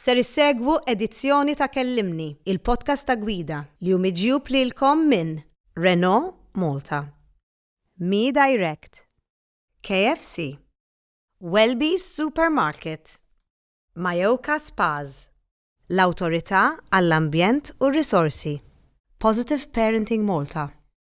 Ser issegwu edizzjoni ta' Kellimni, il-podcast ta' gwida li hu miġjub lilkom minn Renault Malta, Me Direct, KFC, Welby's Supermarket, Mayoka Spas, l-Awtorità għall-Ambjent u r-Risorsi, Positive Parenting Malta,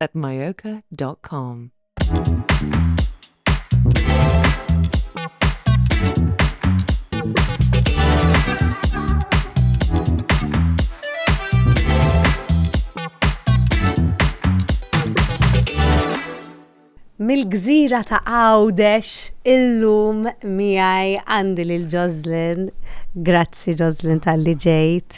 at myoka.com. Mill-gżira ta' Għawdex illum miegħi għandi lil Joslyn. Grazzi Joslyn tal-li ġejt.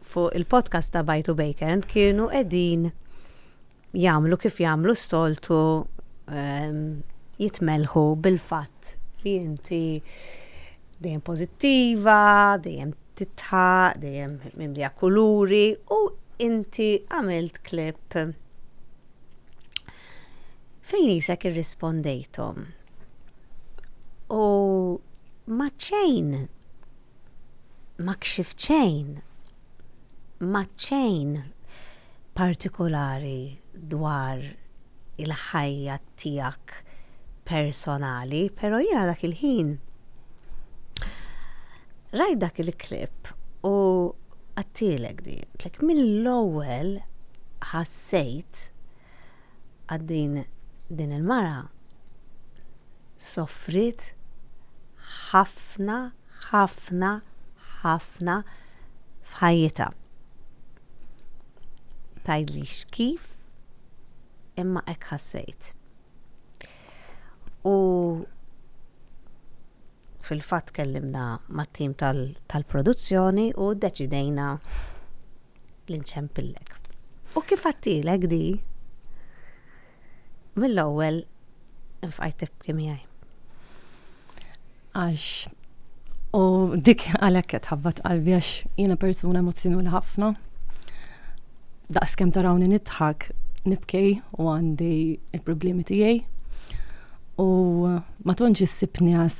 fuq il-podcast ta' Bajtu Bacon kienu qegħdin jagħmlu kif jagħmlu s-soltu ehm, jitmelħu bil-fatt li inti dejjem pożittiva, dejjem titħa, dejjem mimlija kuluri u inti għamilt klip fejn jisek irrispondejtom. U maċċejn ma kxift xejn, ma għedt xejn partikulari dwar il-ħajja tiegħek personali, pero jiena dak il-ħin rajt dak il-clip u għedtilek din, għedtlek mill-ewwel ħassejt, Għad din din il-mara soffriet ħafna ħafna ħafna f'ħajjitha. Tgħidlix kif imma hekk ħassejt. U fil-fatt kellimna mat-tim tal-produzzjoni u ddeċidejna l-inċempillek. U kif għattilek di, mill-ewwel nfqajt tibki miegħi. Għax u dik għalhekk qed ħabbat qalbi għax jiena persuna emozzjonali ħafna. Daqs kemm tarawni nidħak, nibkej u għandi il-problemi tiegħi. U ma tantx issibni għas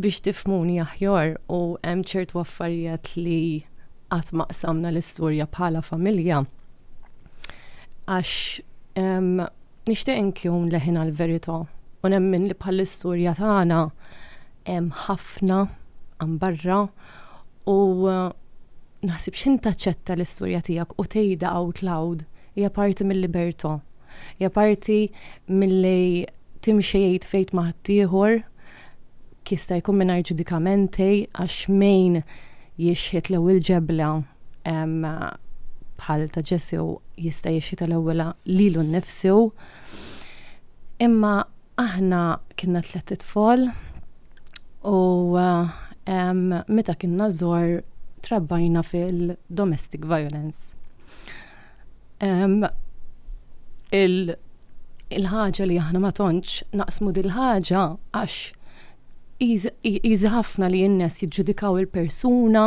Biex tifmuni aħjar u hemm ċertu affarijiet li qatt ma qsamna l-istorja bħala familja. Għax nixtieq inkun leħin għall-verità u nemmen li bħall-istorja tagħna hemm ħafna għan barra u naħsib x'intaċċetta l-istorja tiegħek u tgħidha out loud hija parti mill-libertà. Hija parti milli timxi id fejt ma' ħaddieħor, jista' jkun mingħajr ġudikamenti għax min jixħit l-ewwel ġebla bħal ta' Ġesù jista' jixħitha l-ewwel lilu nnifsu. Imma aħna kienna tliet itfal u meta kienna żgħar trabbajna fil-domestic violence. il-ħaġa li aħna ma tontx naqsmu dil-ħaġa għax jizi ħafna li jinnes jiġġudikaw il-persuna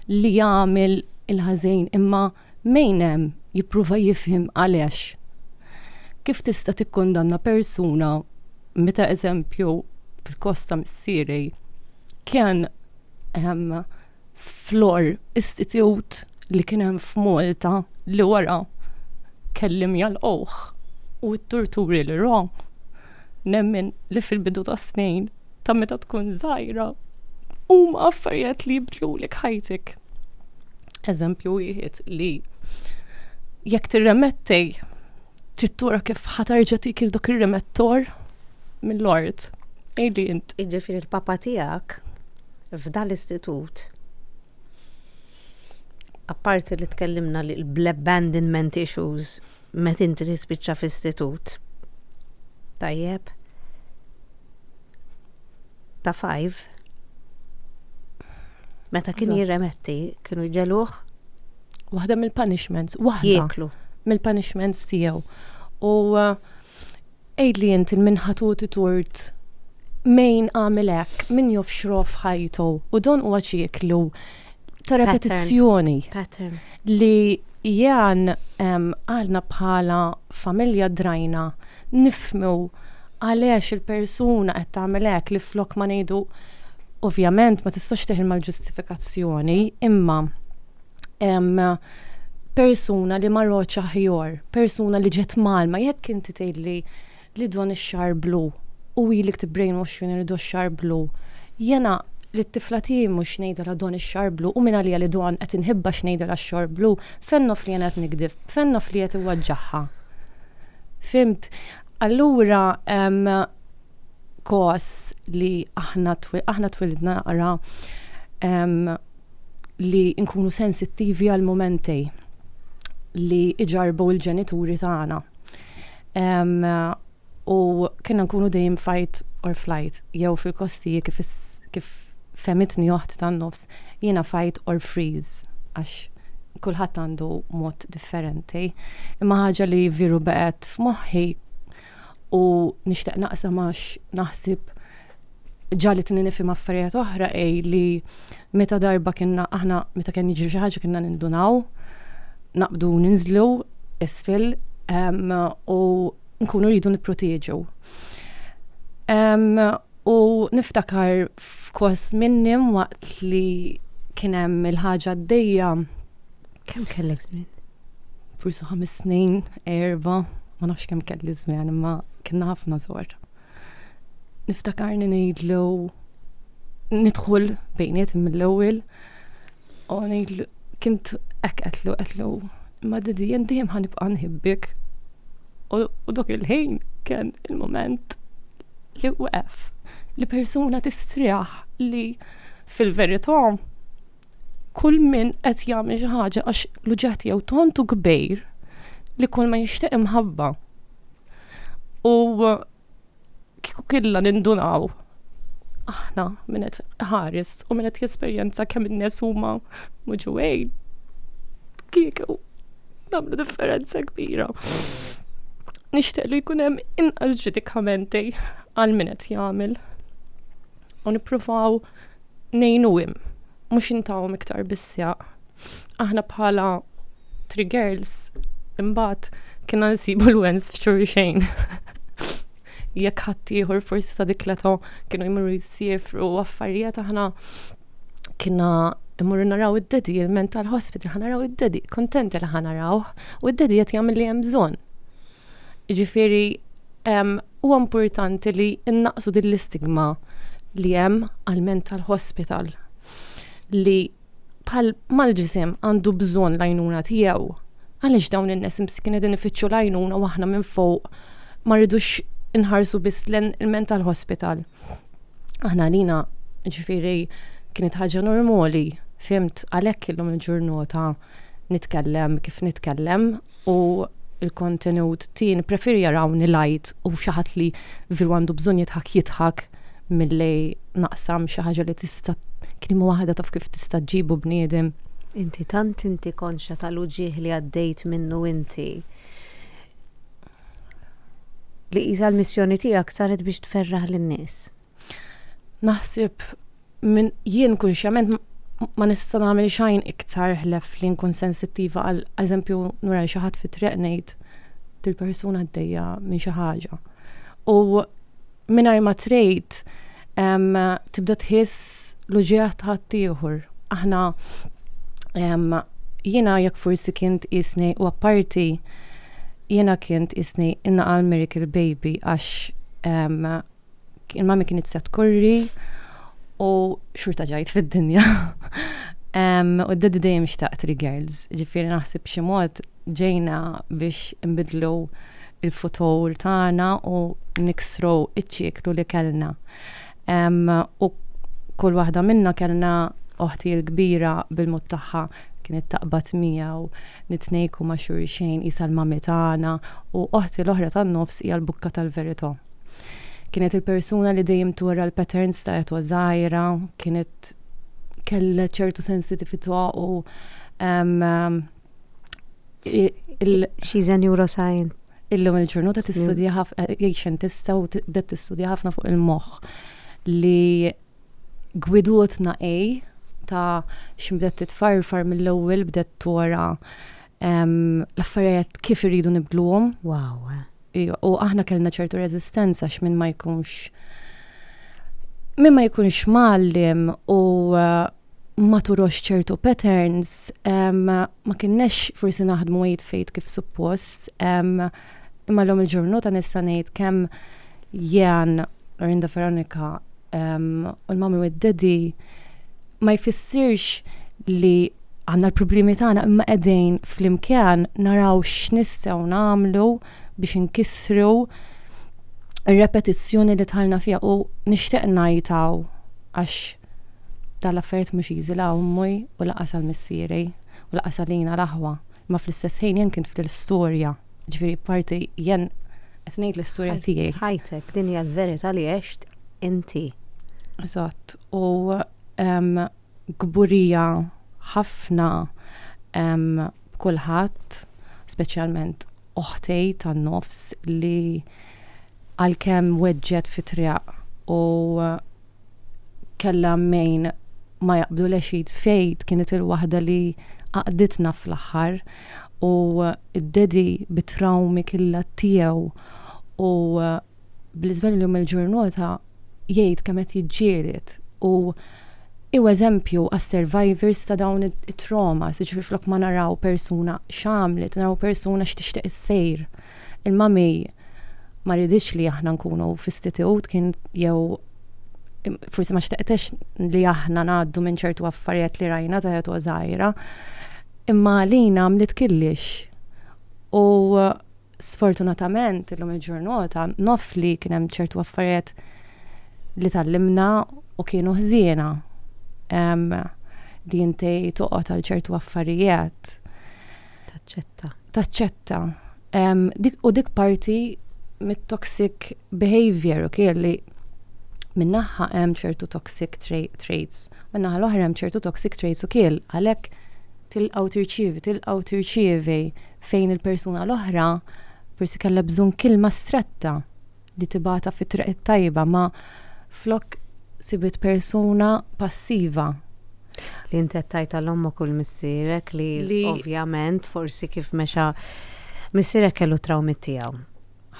li jagħmel il-ħażin imma mejnem jipprova jifhem għalex. Kif tista' tikkundanna persuna meta eżempju fil-kosta missieri kien Flor, istitut li kien hemm f'Malta li wara kellhom jagħlquh u t-torturi li ra. Nemmen li fil-bidu tas-snin ta' meta tkun żgħira huma affarijiet li jibdlulek ħajtek. Eżempju wieħed li jekk tirremettej trid tura kif ħatarġa tikil dak ir-remettor mill-art. Ejli int. Jiġifieri l-papa tiegħek f'dan l-istitut, apparti li tkellimna li bl-abandonment issues meta inti tispiċċa f'istitut, tajjeb, ta' five, meta kien jirremetti, kienu jġeluħ. Waħda mill-punishments, waħda. Jieklu. Mill-punishments tiegħu. U uh, Għidli int il min ħa tgħoti tort? Min għamel hekk? Min jofxroh f'ħajtu? U dan huwa ċiklu ta' repetizzjoni. Pattern. Li jan għalna bħala familja drajna nifmu għaliex il-persuna qed tagħmel hekk li flok ma ngħidu ovvjament ma tistax teħilma l-ġustifikazzjoni imma persuna li marroċ aħjor, persuna li ġet malma, jekk inti tgħidli li don ix-xar blu u ilik tibbrainwash li do xar blu, jena li t-tifla tiegħi mhux ngħidilha don ix-xar blu u minn għalija li don qed inħibba x'ngħidilha x-xor blu, fejn nof li jena qed nikdib, fejn nof li qed iwaġġaħha. Fhimt? Allura kos li aħna aħna twilidna naqra li nkunu sensittivi għal momenti li iġarbu l-ġenituri tagħna. U kienna nkunu dejjem fight or flight, jew fil-kostiji kif kif femitni oħt tan-nofs, jiena fight or freeze għax kulħadd għandu mod differenti. Imma ħaġa li viru baqgħet f'moħħi u nixtieq naqsam għax naħsib ġali tni nifim affarijiet oħra ej li meta darba kienna aħna meta kien jiġri xi ħaġa kienna nindunaw, naqbdu ninżlu isfel um, u nkunu rridu nipproteġu. Um, u niftakar f'kos minnim waqt li kien hemm il-ħaġa d-dejja Kemm kellek żmien? Forsi ħames snin, erba, ma nafx kemm kelli żmien, imma kienna ħafna żor. Niftakarni ngħidlu nidħol bejniet mill-ewwel u ngħidlu kint hekk qedlu qedlu ma didi jien dejjem ħanibqa' nħibbek. U dok il-ħin kien il-moment li waqf li persuna tistriħ li fil-verità kull min qed jagħmel xi ħaġa għax l-uġeħ jew tontu kbir li kull ma jixtieq imħabba. U kieku killa nindunaw aħna minn qed ħares u minn qed jesperjenza kemm in-nies huma muġuwejn. Kieku nagħmlu differenza kbira. Nixtieq li jkun hemm inqas ġudikamenti għal min qed jagħmel. U nippruvaw ngħinuhom, mhux intawhom iktar bissjaq. Aħna bħala Three Girls imbagħad kienna nsibu l-wens f'xur xejn. Jekk ħadd ieħor forsi ta' dik l-età kienu jmorru jsiefru u affarijiet aħna kienna immorru naraw id-dedi, il-mental hospital, ħanaraw id-dedi, kontenti li ħanaraw, u id-dedi qed jagħmel li hemm bżonn. Jiġifieri huwa importanti li innaqsu din l-istigma li hemm għal mental hospital li bħal mal-ġisem għandu bżonn l-għajnuna tiegħu. Għaliex dawn in-nies imskin qegħdin ifittxu l-għajnuna u aħna minn fuq ma rridux inħarsu biss lejn il-mental hospital. Aħna għalina ġifieri kienet ħaġa normali, fimt għalhekk illum il-ġurnota nitkellem kif nitkellem u l-kontenut tiegħi nippreferi jarawni light u xi ħadd li veru għandu bżonn jidħak jidħak milli naqsam xi ħaġa li tista' kelma waħda taf kif tista' ġġib u bniedem. Inti tant inti konxja tal-uġigħ li għaddejt minnu inti li qisha l-missjoni tiegħek saret biex tferraħ lin-nies. Naħseb minn jien kunxjament ma nista' nagħmel xajn iktar ħlef li nkun sensittiva għal eżempju nura xi ħadd fit-triq ngħid dil-persuna għaddejja minn xi ħaġa. U mingħajr ma trejt tibda tħiss l-uġieħ ta' ħaddieħor. Aħna jiena jekk forsi kien tqisni u apparti jiena kien tqisni innaqal miracle baby għax il-mami kienet se tkurri u xurta ġajt fid-dinja. U d-daddy dejjem xtaq three girls, ġifieri naħseb xi mod ġejna biex nbidlu il-futur tagħna u niksru iċ-ċiklu li kellna. U kull waħda minna kellna oħti l-kbira bil-mod tagħha kienet taqbad miegħu nitnejku ma' xulxejn isa l-mami tagħna u oħti l-oħra tan-nofs hija l-bukka tal-verità. Kienet il-persuna li dejjem tura l-patterns ta' etwa żgħira, kienet kella ċertu sensitività u She's a neuroscientist. Illum il-ġurnata tistudja ħafna, eh, xjentista u bdet tistudja ħafna fuq il-moħħ li gwidutna ej ta' x'bdet titfarfar mill-ewwel bdet tora l-affarijiet kif irridu nibdluhom. Wow. Eh. U aħna kellna ċertu rezistenza x'min ma jkunx min ma jkunx mallim u eh, ma turox ċertu patterns, ma kinnex forsi naħdmu jitfejt kif suppost, Imma llum il-ġurnota nista' ngħid kemm Jean, Lorinda Veronika u l-Mami u d-Daddy ma jfissirx li għandna l-problemi tagħna imma qegħdin flimkien naraw x'nistgħu nagħmlu biex inkissru r-repetizzjoni li dħalna fiha u nixtieq ngħid hawn għax dal-affarijiet mhux easy la ommi u laqas għal missieri u laqas għalina l-aħwa. Ma fl-istess ħin jien kien ftit l-istorja, ġifieri parti jien qed ngħid l-istorja tiegħi. Ħajtek, din hija l-verità li għext inti. Eżatt, u kburija ħafna b'kulħadd, speċjalment oħti tan-nofs li għalkemm weġġgħet fit-triq u kella mejn ma jaqbdu l-exid fejt kienet il-waħda li għaqditna fl-aħħar u d-dedi bit-trawmi killa tiegħu u bl-iżvel li mill-ġurnota jgħid kemm qed jiġġieled u hu eżempju għas-survivors ta' dawn it-traumas, jiġifieri flok ma naraw persuna x'għamlet, naraw persuna x'tixtieq issir. Il-mami ma riditx li aħna nkunu f'istitut kien jew forsi ma xtaqtex li aħna ngħaddu minn ċertu affarijiet li rajna ta' jetu żgħira. Imma għalina għamlet killix. U sfortunatament illum il-ġurnota nof li kien hemm ċertu affarijiet li tallimna u kienu ħżiena li inti toqgħod għal ċertu affarijiet. Taċċetta. Taċċetta. Um, dik, u dik parti mit-toxic behavior, ok, li minnaħħa hemm ċertu toxic tra traits, minnaħħa l-oħra hemm ċertu toxic traits u kiel għalhekk tilqgħu tirċievi, tilqgħu tirċievi fejn il-persuna l-oħra forsi kellha bżonn kilma stretta li tibata fi triq it-tajba ma flok sibit persuna passiva. Li inti tajt għal ommok u l-missirek li, li ovvjament forsi kif mexa missirek kellu trawmi tiegħu.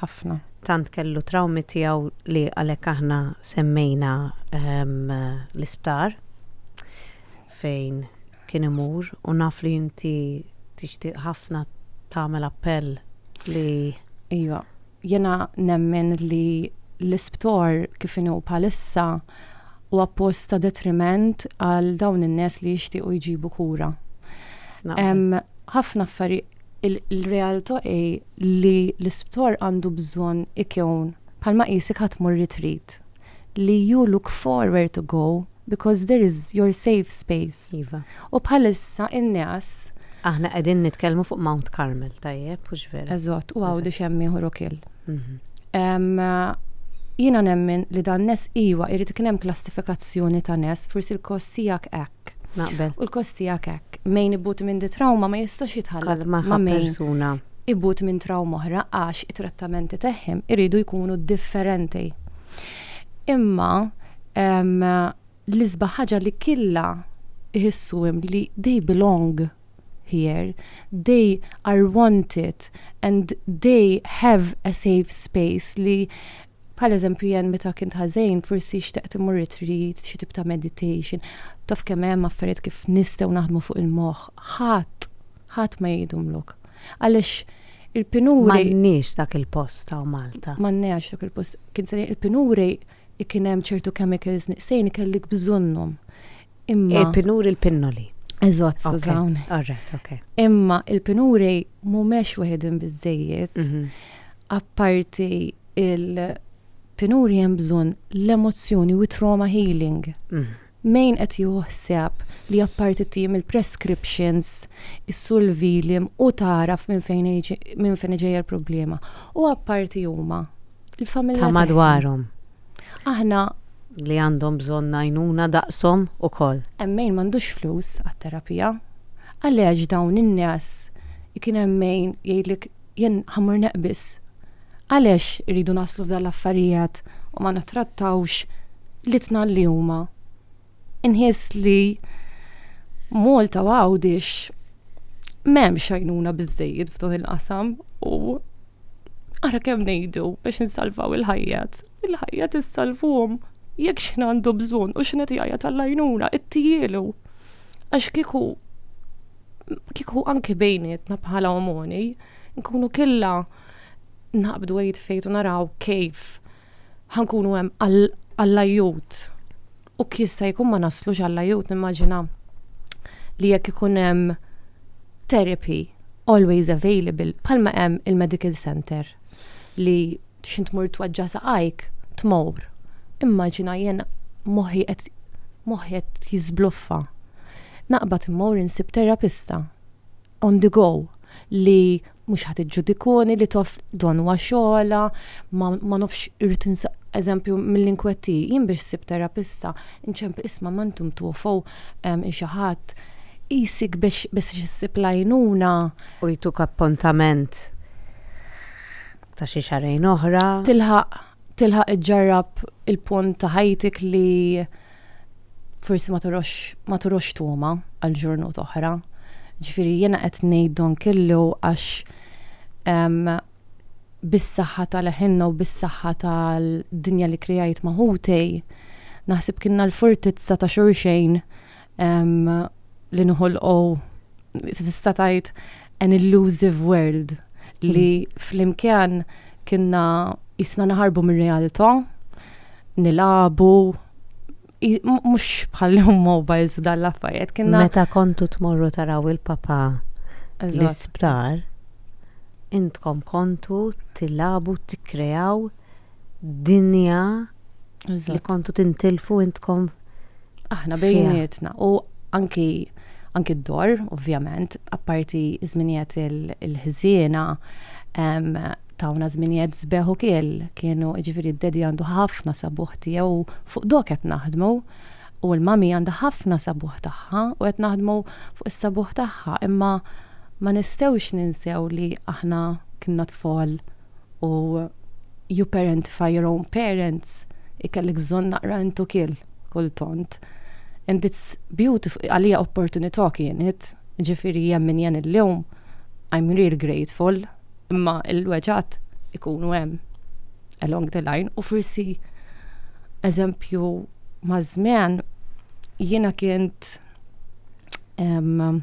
Ħafna. Tant kellu trawmi tiegħu li għalhekk aħna semmejna ehm, l-isptar fejn kien imur u naf li inti tixtieq ħafna tagħmel appell li Iva, Jiena nemmen li l-isptor kif inhu bħalissa huwa post ta' detriment għal dawn in-nies li jixtiequ jġibu kura. Hemm ħafna affarijiet il-realtà hi li l-isptor għandu bżonn ikun bħalma qisek ħa tmur retreat. li you look for where to go because there is your safe space. Iva. U bħalissa in-neas. Aħna qegħdin nitkellmu fuq Mount Carmel, tajjeb, hux vera? Eżatt, u Għawdex Eżatt. hemm ieħor ukiel. Mhm. Em, Jiena nemmen li dan nes iwa jrid ikun hemm klassifikazzjoni ta' nes, forsi l-kost tiegħek hekk. hekk. Naqbel. U l-kost tiegħek hekk. Mejn ibut minn di trawma ma jistax jitħallat ma' persuna. Ibut minn trawma oħra għax it-trattamenti tagħhom iridu jkunu differenti. Imma l-isba ħaġa li killa iħissu hemm li they belong here, they are wanted and they have a safe space li Bħal eżempju jien meta kint ħażin forsi xtaqt immur retreat, xi tip ta' meditation. Taf kemm hemm affarijiet kif nistgħu naħdmu fuq il-moħħ. Ħadd, ħadd ma jgħidhomlok. Għaliex il-pinuri. M'għandniex dak il-post hawn Malta. M'għandniex dak il-post. Kien se ngħid il-pinuri kien hemm ċertu chemicals nieqsin kellek bżonnhom. Imma. Il-pinuri eh, l-pinnoli. Eżatt, skużawni. Alright, ok. Imma il-pinuri mhumiex wieħedin biżejjed. Mhm. Apparti il-pinuri hemm bżonn l-emozzjoni u trauma healing. Mhm. Mejn qed juħseb li apparti tim il-prescriptions, is-sulvilim u taraf minn fejn iġi- minn fejn ġejja l-problema. U apparti huma il-familja. Ta' tagħhom. madwarhom. Aħna li għandhom bżonn għajnuna daqshom ukoll. Hemm min m'għandux flus għat-terapija. Għaliex dawn in-nies ikun hemm min jgħidlek jien ħammur neqbiż. Għaliex irridu naslu f'dan l-affarijiet u ma nittrattawx litna li huma. Inħiss li Malta u Għawdix m'hemmx għajnuna biżejjed f'dan il-qasam u ara kemm ngħidu biex insalvaw il-ħajjat. Il-ħajjat issalvhom jekk x'ħin għandu bżonn u x'ħin qed jgħajjat għall-għajnuna, ittijielu. Għax kieku kieku anki bejnietna bħala omoni, nkunu killa naqbdu għajt fejtu naraw kif ħankunu hemm għall-ajut. U jista' jkun ma naslux għall-ajut, nimmaġina li jekk ikun hemm therapy always available, bħalma hemm il-medical center li xint mur twaġġa saqajk, tmur. Immaġina jien moħi qed moħi qed jizbluffa. Naqbad immur insib terapista. on the go li mhux ħadd iġġudikuni li toff don huwa xogħla, ma nofx irrid eżempju mill-inkwetti, jien biex sib terapista, inċemp isma' ma intom tuofow xi ħadd isik biex biex issib lajnuna. U jtuk appuntament ta' xi xarejn oħra. Tilħaq tilħaq iġġarrab il-punt ta' ħajtik li forsi ma torox ma torox tuma għal ġurnut oħra. Ġifieri jiena qed ngħid don kellu għax bis-saħħa tal-ħinna u bis-saħħa tal-dinja li krijajt maħutej, naħseb kienna l-fortizza ta' xorxejn li nħolqu tista' tgħid an illusive world li mm. flimkien kienna jisna naħarbu mir-realtà, nilabu, mux bħal jom mobiles u dal affarijiet kienna. Meta kontu tmorru taraw il-papa l-isptar, intkom kontu tilabu, tikrejaw, dinja li kontu tintilfu intkom aħna bejnietna u anki anki d-dor, ovvjament, apparti żminijiet il-ħżiena tawna żminijiet zbeħ u kiel kienu ġifieri d-dedi għandu ħafna sabuħ tiegħu fuq dok qed naħdmu u l-mami għandha ħafna sabuħ tagħha u qed naħdmu fuq is-sabuħ tagħha imma ma nistgħux ninsew li aħna kienna tfal u you parentify your own parents, ikellek bżonn naqra intu kill kultant. And it's beautiful, għalija opportunità kienet, ġifiri jemmin jen il-lum, I'm real grateful, imma il-weġat ikunu hemm along the line u forsi eżempju maż-żmien jiena kient um,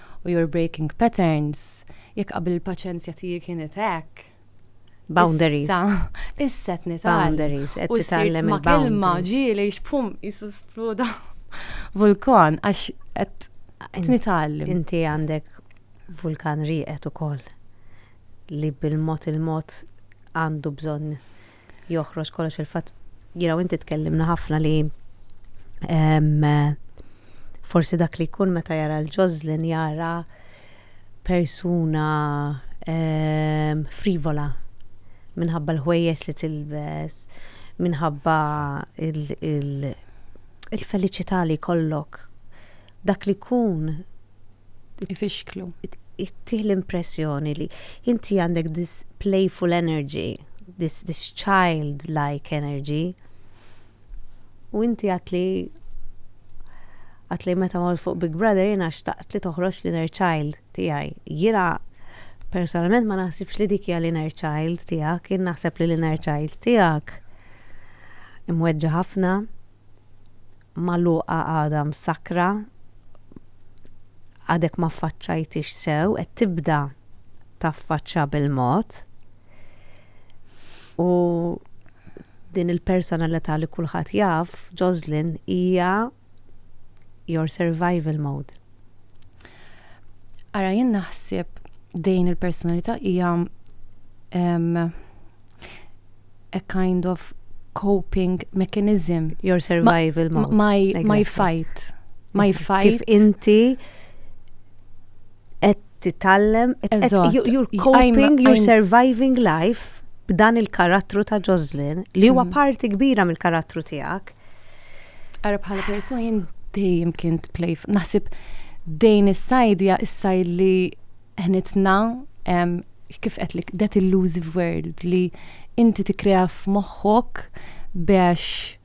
u your breaking patterns, jekk qabel il-paċenzja tiegħi kienet hekk. Boundaries. Issa, issa qed nitgħallem. Boundaries, qed titgħallem ma' kelma ġieli xpum jisu spluda vulkan għax qed nitgħallem. Inti għandek vulkan rieqet ukoll li bil-mod il-mod għandu bżonn joħroġ kollox il-fatt jiena u inti tkellimna ħafna li forsi dak li jkun meta jara l-ġożlin jara persuna frivola minħabba l-ħwejjeġ li tilbes, minħabba il-feliċità li jkollok. Dak li jkun ifixklu. Ittih l-impressjoni li inti għandek this playful energy, this, this child-like energy. U inti għat li għat li meta ma fuq Big Brother jena xtaqt li toħroġ l-inner child tijaj. Jena personalment ma naħsibx li dikja l-inner child tijak, jena naħseb li l-inner child tijak imweġġa ħafna magħluqa għadha msakkra għadek ma ffaċċajthiex sew qed tibda taffaċċja bil-mod u din il-personalità li kulħadd jaf, Joslyn, hija your survival mode. Ara jien naħseb dejn il-personalità hija a kind of coping mechanism. Your survival ma, mode. My, exactly. my fight. My fight. Kif inti qed titallem, you're coping, you're surviving life b'dan il-karattru ta' Jocelyn li huwa mm. parti kbira mill-karattru tiegħek. Ara bħala persun jien dejjem kien play naħseb dejn is-sajdja is-sajd li ħnitna kif qedtlek, that illusive world li inti tikkrea f'moħħok biex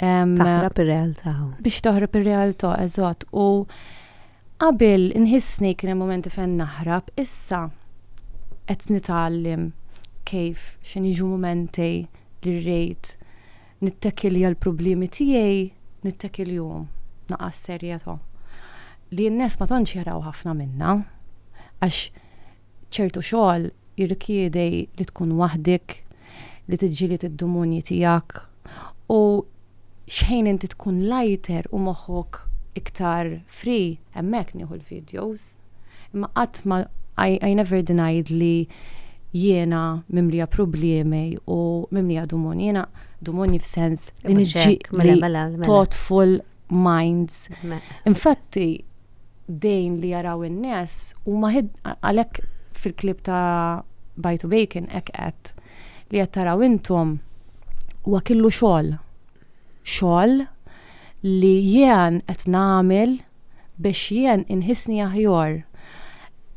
Taħrab ir-realtà. Biex taħrab ir-realtà, eżatt. U qabel inħissni kien hemm momenti fejn naħrab, issa qed nitgħallim kif x'in jiġu momenti li rrid nittekil għal problemi tiegħi nittekil jum naqas serjetà. Li n-nies ma tantx jaraw ħafna minna għax ċertu xogħol jirrikjedi li tkun waħdik, li tiġġieled id-dumunji tiegħek u x'ħin inti tkun lighter u moħħok iktar free, hemmhekk nieħu l-videos. Imma qatt ma I, I never denied li jiena mimlija problemi u mimlija dumunji. Jiena dumunji f'sens li niġġi mela, mela, mela. thoughtful minds. Infatti, dejn li jaraw in-nies huma għalhekk fil-klib ta' Bajtu Bacon hekk qed li qed taraw intom huwa killu xogħol. Xogħol li jien qed nagħmel biex jien inħissni aħjar.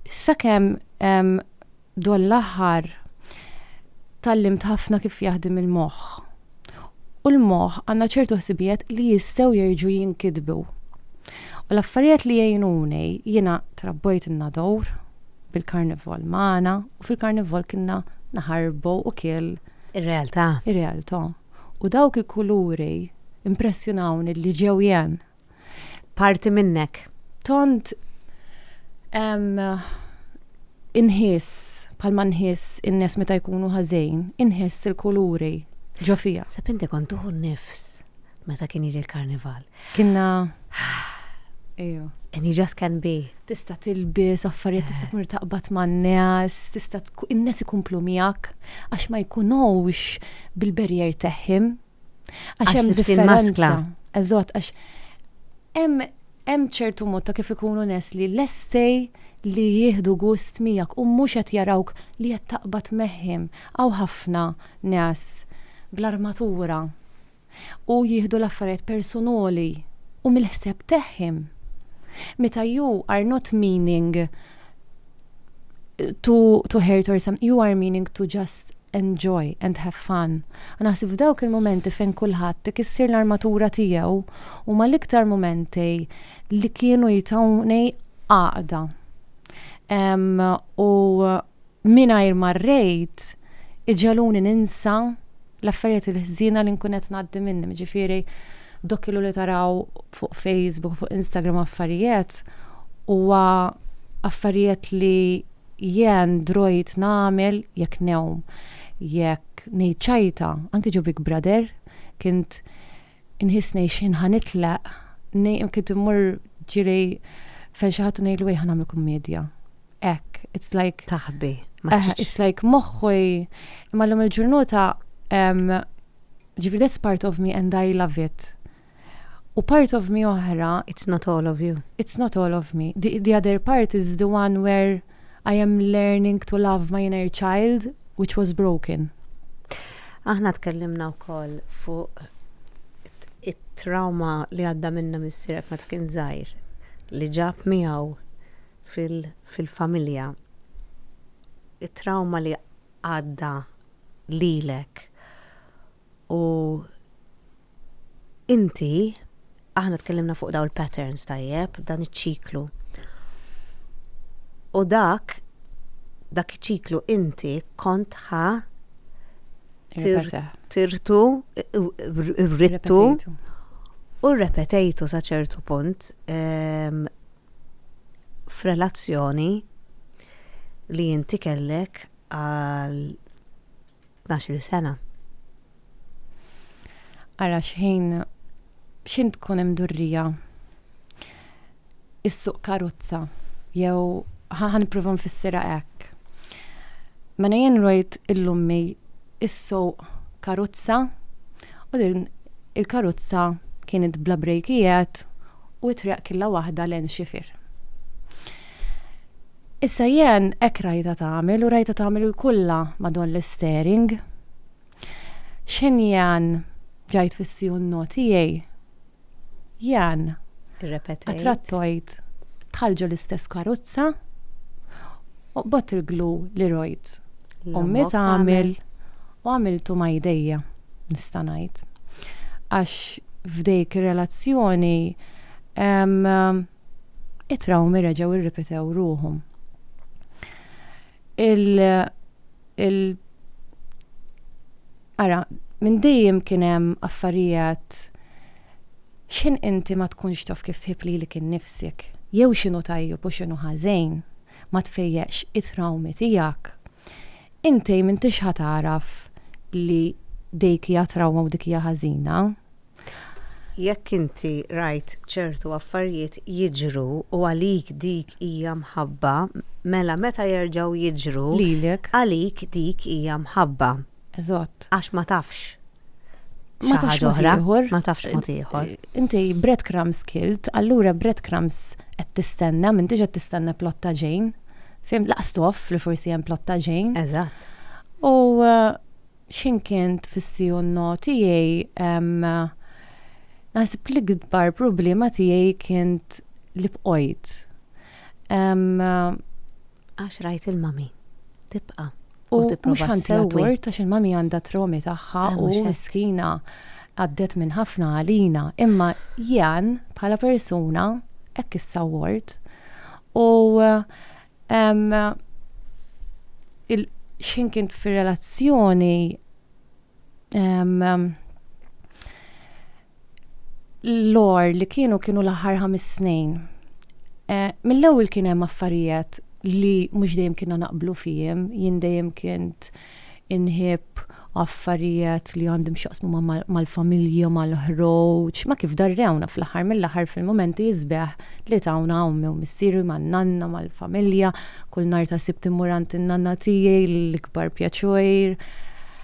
Sakemm B'dan l-aħħar tgħallimt ħafna kif jaħdem il-moħħ. U l-moħħ għandna ċertu ħsibijiet li jistgħu jerġgħu jinkitbu. U l-affarijiet li jgħinuni, jiena trabbojt in-Nador bil-Karnival magħna u fil-Karnival kienna naħarbu u kiel. Ir-realtà. Ir-realtà. U dawk il-kuluri impressjonawni li ġew jien. Parti minnek. Tont inħiss palma nħiss in-nies meta jkunu ħażejn, inħiss il-kuluri ġo fija. Sab inti kont tuħu nifs meta kien jiġi l-karnival. Kienna. Ejo. And you just can be. Tista tilbis, affarijiet, tista tmur taqbad man nies tista in-nies ikumplu miegħek għax ma jkunux bil-berjer teħħim Għax hemm differenza. Eżatt, għax hemm hemm ċertu mod ta' kif ikunu nes li lestej li jieħdu gust miegħek u mhux qed jarawk li qed taqbad megħhim. Hawn ħafna nes bl-armatura u jieħdu l-affarijiet persunoli u mill-ħseb tagħhim. Meta you are not meaning to, to hurt or something, you are meaning to just enjoy and have fun. Naħseb f'dawk il-momenti fejn kulħadd tikissir l-armatura tiegħu u ma l-iktar momenti li kienu jitawni għaqda. U mingħajr marrejt iġaluni ninsa l-affarijiet il-ħżiena li nkun qed ngħaddi minnhom, jiġifieri dak ilu li taraw fuq Facebook, fuq Instagram affarijiet, huwa affarijiet li jien drojt nagħmel jekk newm, jekk ngħid ċajta, anke ġo Big Brother, kint Inħissni x'ħin ħa nitlaq, ngħid kif immur ġiri fejn xi ħadd u ngħidlu ejja ħa nagħmlu kummedja. Hekk, it's like. Taħbi. Eh, it's like moħħu imma llum il-ġurnota ġifri that's part of me and I love it. U part of me oħra. It's not all of you. It's not all of me. The, the other part is the one where I am learning to love my inner child which was broken. Aħna tkellimna wkoll fuq it-trauma li għadda minna missierek meta kien żgħir li ġab miegħu fil-familja. It-trauma li għadda lilek u Inti, aħna tkellimna fuq dawn il-patterns tajjeb, dan iċ-ċiklu. U dak, dak iċ-ċiklu inti kont ħa tirtu, rrittu, u repetejtu sa ċertu punt ehm, f'relazzjoni li inti kellek għal tnax-il sena. Ara x'ħin x'ħin tkun hemm durrija issuq karozza jew ħa nipprova nfissirha hekk. Mela jien rajt il-lummi issuq karozza u din il-karozza kienet bla brejkijiet u t-triq killa waħda l-għen xifir. Issa jien hekk rajtha tagħmel u rajtha tagħmel il-kulla ma' don l-isteering. X'ħin jien ġajt fis-CUNO tiegħi, jien Irrepetejt. attrattojt bħal ġo l-istess karozza u qbodt il-glu li rojt ommi L-ammok tagħmel. tagħmel u għamiltu ma' jdejja, nista' ngħid. Għax f'dik ir-relazzjoni, ehm, it-trawmi reġgħu irripetew ruħhom. Il, il Ara, minn dejjem kien hemm affarijiet x'in inti ma tkunx taf kif tħib lilek innifsek, jew x'inhu tajjeb u x'inhu ħażejn, ma tfejjeqx it-trawmi tiegħek. Inti m'intix ħa tagħraf li dik hija trawma u dik hija ħażina, Jekk inti rajt ċertu affarijiet jiġru u għalik dik hija mħabba, mela meta jerġgħu jiġru Lilek. għalik dik hija mħabba. Eżatt. Għax ma tafx Ma xi tafx ħaġa mod oħra. ieħor. Ma tafx mod ieħor. Inti breadcrumbs kilt, allura breadcrumbs qed tistenna, m'intix qed tistenna plott ta' ġejn. Fim, laqas toff li forsi hemm plott ta' ġejn. Eżatt. U eh, X'ħin kien tfissi u n-no tiegħi hemm naħseb l-ikbar problema tiegħi kint li bqojt hemm. Għax rajt il-mami tibqa' u tipprova ssewwi. U mhux ħantiha tort għax il-mami għandha tromi tagħha u miskina għaddiet minn ħafna għalina. Imma Jan bħala persuna hekk issawwort u X'ħin kien fir-relazzjoni l-għar li kienu kienu l-aħħar ħames snin. Eh, mill-ewwel kien hemm affarijiet li mhux dejjem kienna naqblu fihim, jien dejjem kint inħibb affarijiet li għandhom x'jaqsmu mal-familja, mal-ħroġ, ma' kif darrewna fl-aħħar mill-aħħar fil-mumenti isbieħ li tawna ommi u missieri man-nanna mal-familja, kull nhar ta' Sibt immur għand in-nanna tiegħi l-ikbar pjaċir.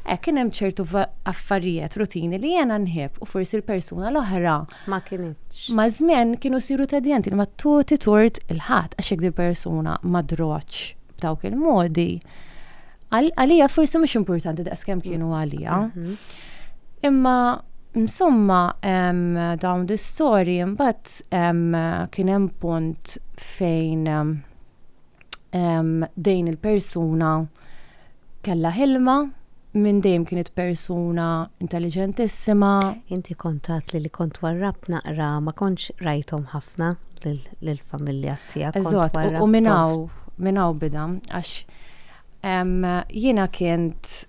Hekk kien hemm ċertu affarijiet rutini li jiena nħibb u forsi l-persuna l-oħra. Ma kinitx. Ma' żmien kienu siru tedjenti li ma tuti tort il-ħadd għax jekk dil-persuna ma drotx b'dawk il-modi. Għalija forsi mhux importanti daqskemm kienu għalija. Imma insomma dawn di storji mbagħad kien hemm punt fejn dejn il-persuna kella ħilma minn dejjem kienet persuna intelligentissima. Inti kontat li li kont warrab naqra ma kontx rajthom ħafna lill-familja tiegħek. Eżatt, u minnaw minnaw bidam għax Jiena kint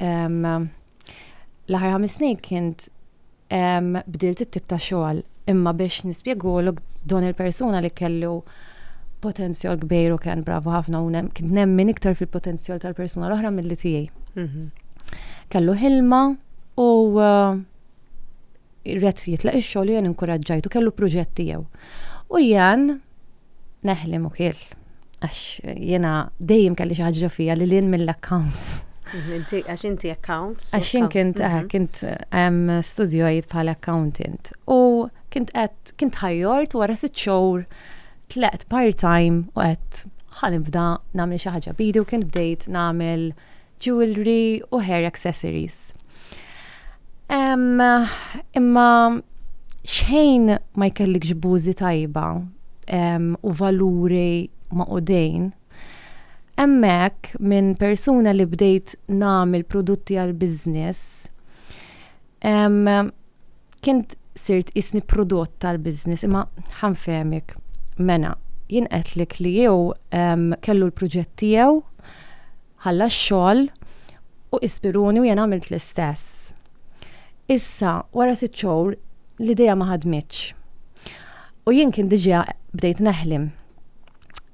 l-aħħar ħames snin kint bdilt it-tip ta' xogħol imma biex nispjegulok don il-persuna li kellu potenzjol kbir u kien bravo ħafna u kien nemmen iktar fil-potenzjol tal-persuna l-oħra mill-li tiegħi. Mhm. Kellu ħilma u uh, rret jitlaq ix-xogħol jien inkuraġġajtu kellu proġett tiegħu. U jien Neħli mukil. Għax jena dejjem kelli xi ħaġa fija li lin mill-accounts. Mhm, għax inti accounts. Għax jien kint eh, mhm. kint studjojt bħala accountant. U kint qed kint ħajjort wara sitt xhur tleqt part-time u qed ħanibda nagħmel xi ħaġa bidi u kien bdejt nagħmel jewellery u hair accessories. Imma xejn ma jkellikx bużi tajba u valuri maqudin hemmhekk minn persuna li bdejt nagħmel prodotti għal business kien sirt qisni prodott tal-business imma ħa nfehmek. Mena, jien qedtlek li hu kellu l-proġett tiegħu, Ħalla x-xogħol u ispiruni u jien għamilt l-istess. Issa, wara sitt xhur, l-idea ma ħadmitx. U jien kien diġà bdejt neħlem.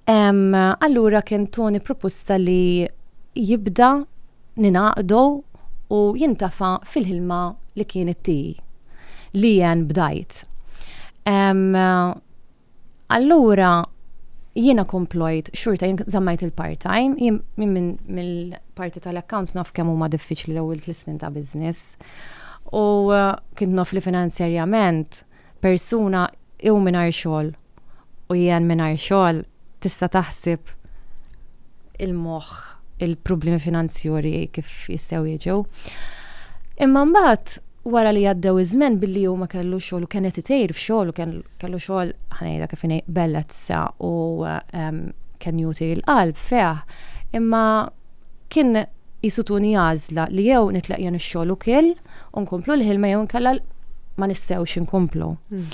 Allura kien Tony prupusta li jibda ningħaqdu u jintafa' fil-ħilma li kien it-tea li jien bdajt. Allura jiena komplojt xurta jien żammajt il-part-time, jien minn mill-parti tal-accounts naf kemm huma diffiċli l-ewwel tlisnin ta' business. U uh, kien naf li finanzjarjament persuna jew mingħajr xogħol u jien mingħajr xogħol tista' taħsib il-moħħ il-problemi finanzjori kif jistgħu jiġu. Imma mbagħad wara li għaddew iż-żmen billi huma kellu xogħol u kien qed itejr f'xogħol u kellu xogħol ħanejda kif inhi bellezza u ehm, kien juti l-qalb feħ. Imma kien jisutuni għażla li jew nitlaq jien ix-xogħol u kill u nkomplu l-ħilma jew nkella ma nistgħux inkomplu. Hmm.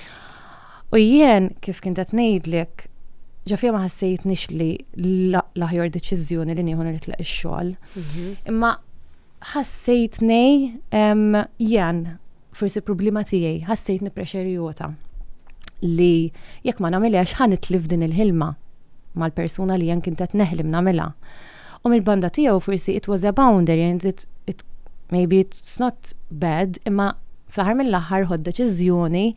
U jien, kif kint qed ngħidlek, ġo fija ma ħassejtnix li l-aħjar deċiżjoni li nieħu nitleq ix-xogħol. Mhm. Imma ħassejtni jen, forsi problema tiegħi, ħassejtni prexerjota li jekk ma nagħmilx ħan itlif din il-ħilma mal-persuna li jen kint qed neħlim nagħmilha. U mill-banda tiegħu forsi it was a boundary and it, it maybe it's not bad, imma fl-aħħar mill-aħħar ħod deċiżjoni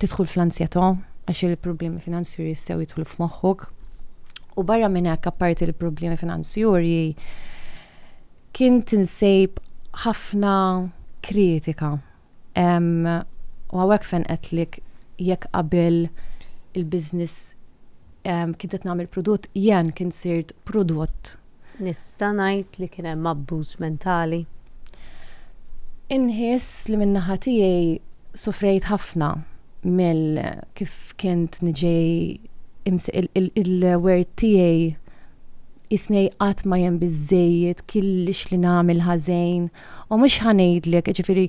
tidħol fl-ansjetà għax il-problemi finanzjuri jistgħu jidħlu f'moħħok. U barra minn hekk apparti l-problemi finanzjuri kien tinsejb ħafna kritika. U għawek fejn qedtlik jekk qabel il-biznis kien qed nagħmel prodott jen kien sirt prodott Nista' ngħid li kien hemm abbuż mentali. Inħiss li min-naħa tiegħi sofrejt ħafna mill kif kint niġi il-wert tiegħi qisni qatt ma jien biżżejjed, killix li nagħmel ħażejn, U mhux ħa ngħidlek, jiġifieri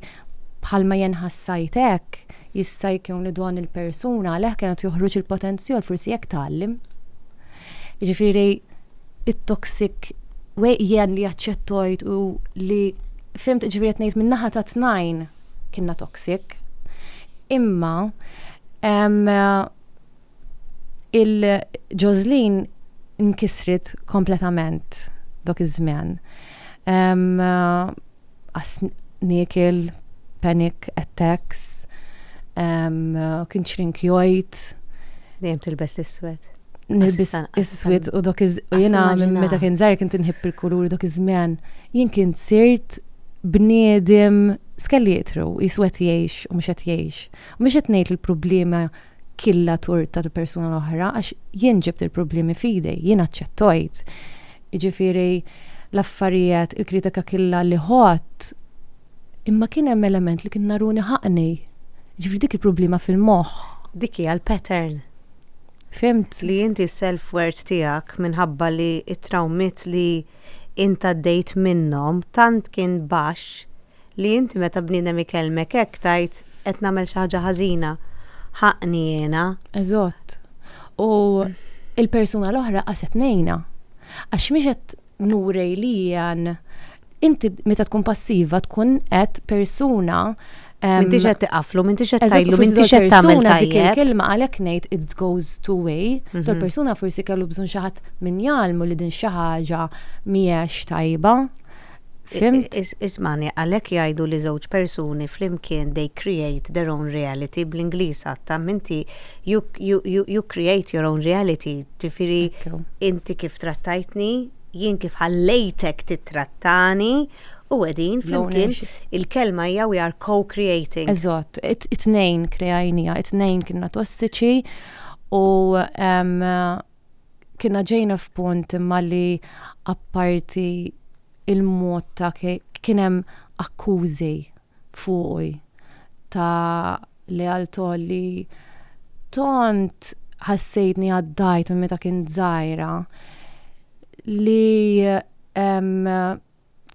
bħalma jien ħassajt hekk, jista' jkun li don il-persuna għalih kien qed joħroġ il-potenzjol, forsi hekk tgħallem. Jiġifieri it-toxic way jien li aċċettojt u li fimt ġifieri qed ngħid min-naħa ta' tnajn kienna toxic. Imma Il-Ġożlin nkisret kompletament dok iż-żmien. Niekel, panic attacks, kien ċrink jgħid. Dejjem tilbes l-iswed. Nilbes iswed u dok iż u jiena meta kien żgħir kien tinħib il-kulur dok iż-żmien. Jien kien sirt bniedem skellietru, iswed jgħix u mhux qed jgħix. U mhux qed ngħid il-problema killa tort tal-persuna l-oħra, għax jien ġibt il-problemi fidi, jien aċċettojt. Ġifiri, l-affarijiet, il-kritika killa li ħott, imma kien hemm element li kien naruni ħaqni. Ġifiri dik il-problema fil-moħħ. Dik hija l-pattern. Fimt. Li inti self-worth tiegħek minħabba li it-trawmit li inta dejt minnhom tant kien baxx li inti meta bniedem ikellmek hekk tgħid qed nagħmel xi ħaġa ħażina, ħaqqni jiena. Eżatt. U l-persuna l-oħra qas qed ngħinha. Għax mhix qed nuri li jien inti meta tkun passiva tkun qed persuna M'intix qed tiqaflu, m'intix qed tgħidlu, m'intix qed tagħmel tajjeb. Kelma għalhekk ngħid it goes two way, mhm. tal persuna forsi kellu bżonn xi ħadd min jgħalmu li din xi ħaġa mhijiex tajba. Fhimt? Ismagħni, għalhekk jgħidu li żewġ persuni flimkien they create their own reality, bl-Ingliż għad tamm inti you you you create your own reality, ġifieri inti kif trattajtni, jien kif ħallejtek tittrattani u qegħdin flimkien il-kelma hija we are co-creating. Eżatt, it-tnejn kreajnija, it-tnejn kienna tossiċi u kienna ġejna f'punt imma li apparti il-mod ta' kien hemm akkużi fuqi ta' lealtà li tant ħassejtni għaddajt minn meta kien żgħira li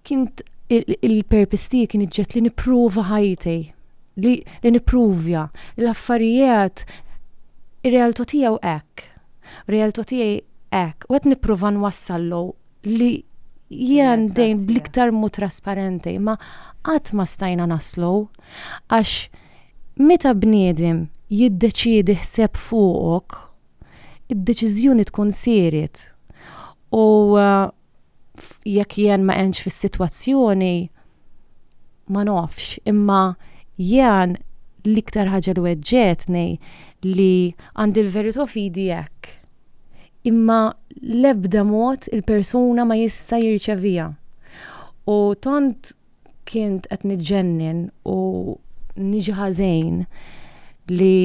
Kint il-purpose tiegħi kien iġġed li nipprova ħajti, li, li nippruvja l-affarijiet ir-realtà tiegħu hekk. Realtà tiegħi hekk. U qed nipprova nwassallu li jien dejn bl-iktar mod trasparenti, ma qatt ma stajna naslu għax meta bniedem jiddeċiedi ħseb fuqok, id-deċiżjoni tkun sieret. U jekk jien ma għenx fis-sitwazzjoni ma nofx, imma jien l-iktar ħaġa li weġġetni li għandi l-verità fidi hekk. Imma l-ebda mod il-persuna ma jista' jirċevija. U tant kint qed niġġennen u niġi ħażejn li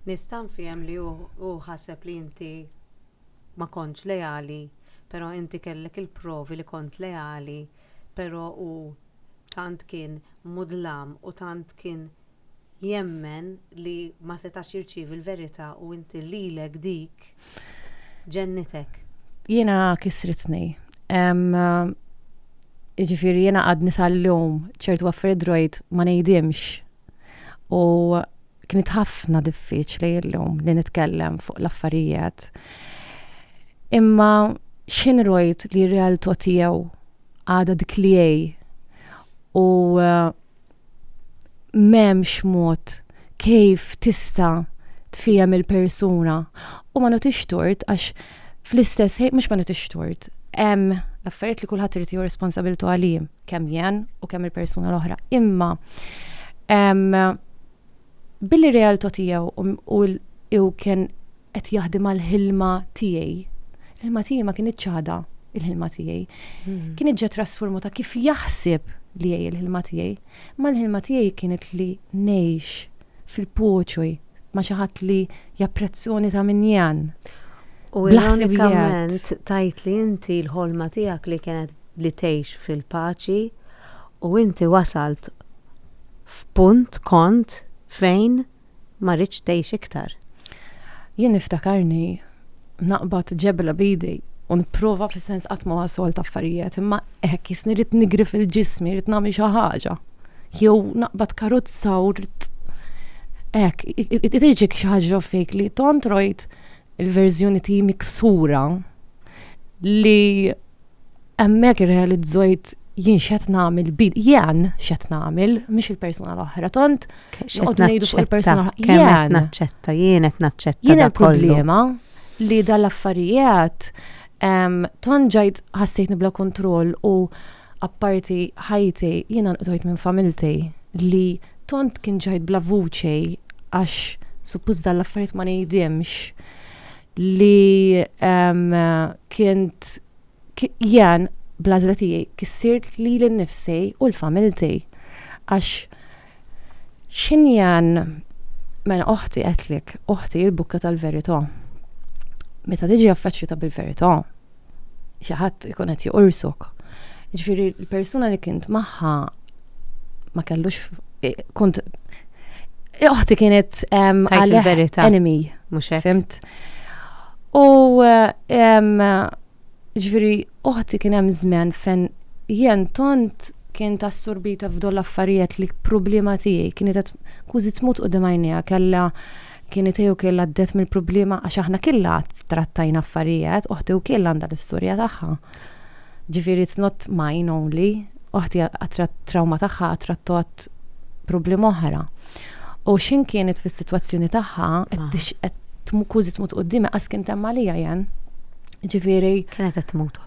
Nista' nfiem li hu ħaseb li inti ma kontx leali, però inti kellek il-provi li kont leali, però hu tant kien mudlam u tant kien jemmen li ma setax jirċievi l-verità u inti lilek dik ġennitek. Jiena kisritni. Jiġifieri jiena għadni sal-lum ċertu affarijiet rajt ma ngħidhimx u Kienet ħafna diffiċli llum li nitkellem fuq l-affarijiet. Imma x'in rojt li realtà tiegħu għada dik li u eh, m'hemmx mod kif tista' tfihem il-persuna u ma notix tort għax fl-istess ħin mhux ma nitix tort. Hemm l-affarijiet li kulħadd irid jieħu responsabiltu għalihom. kemm jen u kemm il-persuna l-oħra. Imma billi realtà tiegħu u kien qed jaħdem għal ħilma tiegħi, il-ħilma tiegħi ma kien iċċada il-ħilma tiegħi. Hmm. Kien iġġa trasformu ta' kif jaħseb li jgħi il-ħilma tiegħi, ma l-ħilma tiegħi kienet li ngħix fil-poċoj ma xi ħadd li japprezzoni ta' min jan. U l-unikament tajt li inti l-ħolma tiegħek li kienet li tgħix fil-paċi u inti wasalt f'punt kont fejn ma ridtx tgħix iktar. Jien niftakarni naqbad ġebla b'idi u nipprova fis-sens qatt ma wasolt affarijiet imma hekk jisni rrid nigri fil-ġismi, rrid nagħmel xi ħaġa. Jew naqbad karozza u rrid Ek, tiġik xaġġa fejk li tont rojt il-verżjoni ti miksura li Hemmhekk irrealizzojt jien x'qed nagħmel bid, jien x'qed nagħmel, mhux il-persuna l-oħra, tont noqgħod ngħidu fuq il-persuna l-oħra. Jien naċċetta, jien qed naċċetta. Jien il-problema li dal-affarijiet tont ġajt ħassejtni bla kontroll u apparti ħajti jiena nqdojt minn familti li tont kien ġajt bla vuċi għax suppost dal-affarijiet ma ngħidimx. li kint jien blażla tiegħi kissirt li l-nifsi u l-familti. Għax xin jien mela oħti għetlik, oħti il-bukka tal-verità. Meta tiġi affeċċjuta bil-verità, xi ħadd ikun qed joqorsok. Ġifieri l-persuna li kint magħha ma kellux eh, kont oħti kienet għalih enemy. Mhux hekk. Fimt. U ġifieri oħti kien hemm żmen fejn jien tont kien ta' assorbita f'dol affarijiet li problema tiegħi kienet qed kużi tmut qudiem għajnija kellha Kien itej u kien għaddet mill-problema għax aħna killa trattajna affarijiet, uħti u kien għandha l-istorja tagħha. Ġifieri it's not mine only, uħti għatrat trauma tagħha għatrattot problema oħra. U xin kienet fis-sitwazzjoni tagħha qed tmukużi tmut qoddimi qas kien temma li jen. Ġifieri. Kienet qed tmut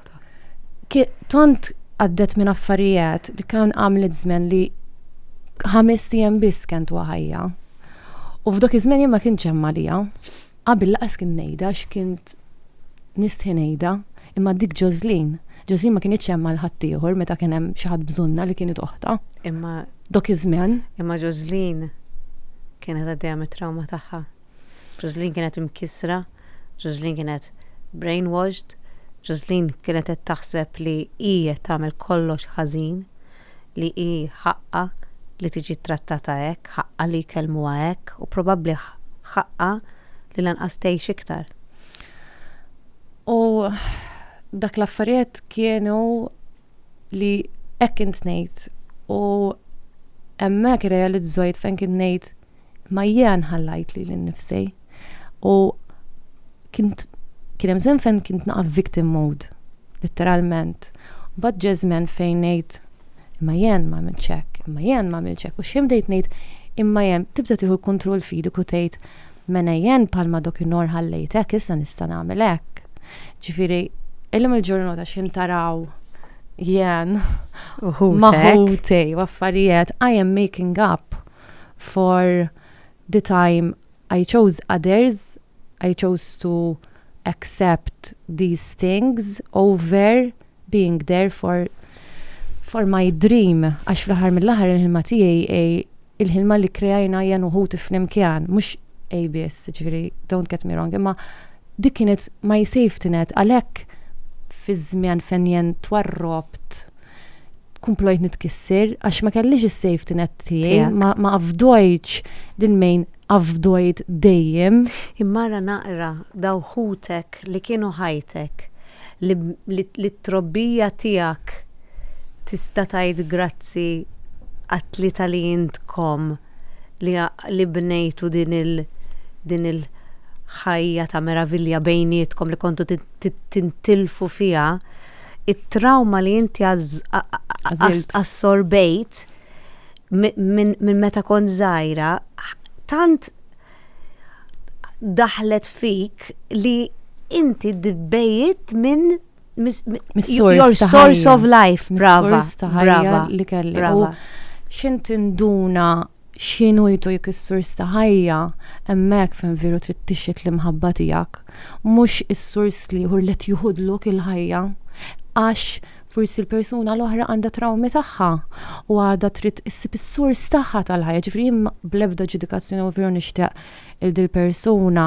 Tont għaddet minn affarijiet li kan għamlet żmen li ħames tiegħem biss kent waħajja. U f'dak iż-żmien jien ma kienx hemm għaliha. Qabel laqas kien ngħidha għax kint nistħi ngħidha, imma dik Ġożlin, Ġożlin ma kinitx hemm għal ħaddieħor meta kien hemm xi ħadd bżonnha li kienet oħtha. Imma Dok iż-żmien. Imma Ġożlin kienet għaddejja mit-trawma tagħha. Ġożlin kienet imkissra, Ġożlin kienet brainwashed, Ġożlin kienet qed taħseb li hi qed tagħmel kollox ħażin, li hi ħaqqha li tiġi ttrattata hekk, ħaqqha li jkellmuha hekk u probabbli ħaqqha li lanqas tgħix iktar. U dak l-affarijiet kienu li hekk int ngħid u hemmhekk realizzajt fejn kien ngħid Ma jiena nħallajt li l-nifsej. U kint kien hemm żmien fejn kint naqaf victim mode, letteralment. Bad ġej żmien fejn ngħid imma jien ma għamilt ċek, imma jien ma għamilt ċek. U xejn bdejt ngħid imma jien tibda tieħu l-kontroll fidek u tgħid mena jien palma dokinhar ħallejtek issa nista' nagħmel hekk. Ġifieri, illum il-ġurnata xejn taraw jien maħutej u affarijiet I am making up for the time I chose others, I chose to accept these things over being there for for my dream, għax fl-aħħar mill-aħħar il-ħilma tiegħi hi il-ħilma li kreajna jien u ħuti flimkien, mhux hi biss, ġifieri don't get me wrong, imma dik kienet my safety net għalhekk fiż-żmien fejn jien twarrobt, kumplojt nitkisser għax ma kellix is-safety net tiegħi, ma afdojċ din mejn afdojt dejjem. Immara naqra daw ħutek li kienu ħajtek li t-trobbija tiegħek tista' tgħid grazzi għat-tlieta li intkom li bnejtu din il-ħajja ta' meravilja bejnietkom li kontu tintilfu fiha. it-trawma li inti assorbejt minn meta kont żgħira tant daħlet fik li inti dibbejt minn your source of life, brava. Brava. Li kelli. Brava. Xint induna Xi ngħidu jekk is-sors ta' ħajja, hemmhekk fejn veru trid tixhed l-imħabba tiegħek, mhux is-sors l-ieħor li qed jiħudlok il-ħajja? Għax forsi l-persuna l-oħra għandha trawmi tagħha u għadha trid issib is-sors tagħha tal-ħajja. Ġifieri jien bl-ebda ġudikazzjoni u veru nixtieq lil dil-persuna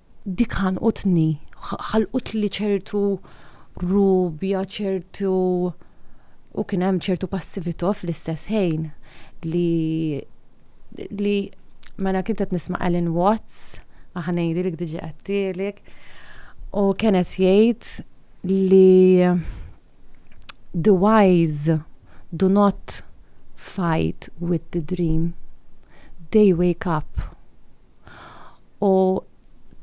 Dik ħanqutni, ħalqutli ċertu rubja, ċertu u kien hemm ċertu passività fl-istess ħin li li mela kien qed nisma' Alan Watts, aħa ngħidilek diġà għedtilek, u kien qed jgħid li the wise do not fight with the dream, they wake up u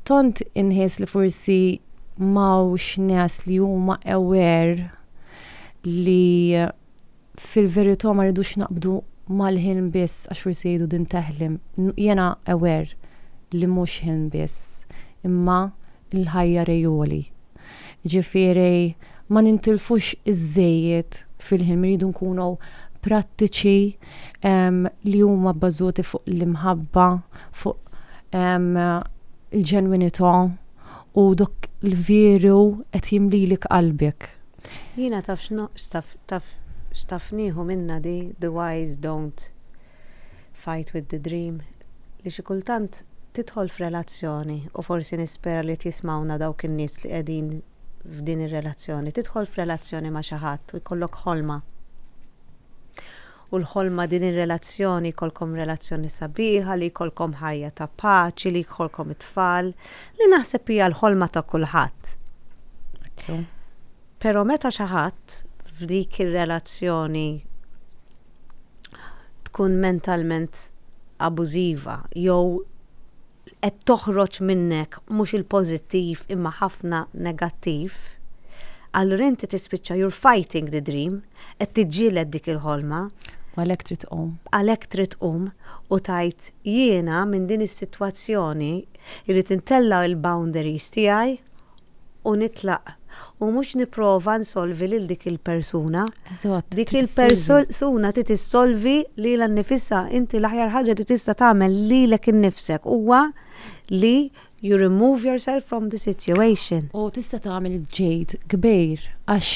tont inħies li forsi mawx nes li huma aware li fil-verità ma rridux naqbdu mal-ħin biss għax forsi jgħidu din teħlim. Jena aware li mhux ħin biss, imma l-ħajja rejoli. Jiġifieri ma nintilfux iż-żejjed fil-ħin, irridu nkunu prattiċi li huma bbażuti fuq l-imħabba, fuq il-ġenwinità u dak li veru qed jimlilek qalbek. Jiena taf x'taf nieħu minnha di the wise don't Fight with the dream li xi kultant tidħol f'relazzjoni u forsi nispera li qed jismgħuna dawk in-nies li qegħdin f'din ir-relazzjoni. Tidħol f'relazzjoni ma' xi ħadd u jkollok ħolma. U l-ħolma din ir-relazzjoni jkollkom relazzjoni sabiħa, li jkollkom ħajja ta' paċi, li jkollkom it-tfal, li naħseb hija l-ħolma ta' kulħadd. Però meta xi ħadd f'dik ir-relazzjoni tkun mentalment abużiva jew qed toħroġ minnek mhux il-pożittiv imma ħafna negattiv, allura inti tispiċċa you're fighting the dream, qed tiġġieled dik il-ħolma. U għalhekk trid tqum. Għalhekk trid tqum u tgħid jiena minn din is-sitwazzjoni jrid intella' l-boundaries tiegħi u nitlaq u mhux nipprova nsolvi lil dik il-persuna. Eżatt. Dik il-persuna trid issolvi lilha nnifisha. Inti l-aħjar ħaġa li tista' tagħmel lilek innifsek huwa li you remove yourself from the situation. U tista' tagħmel ġejt kbir għax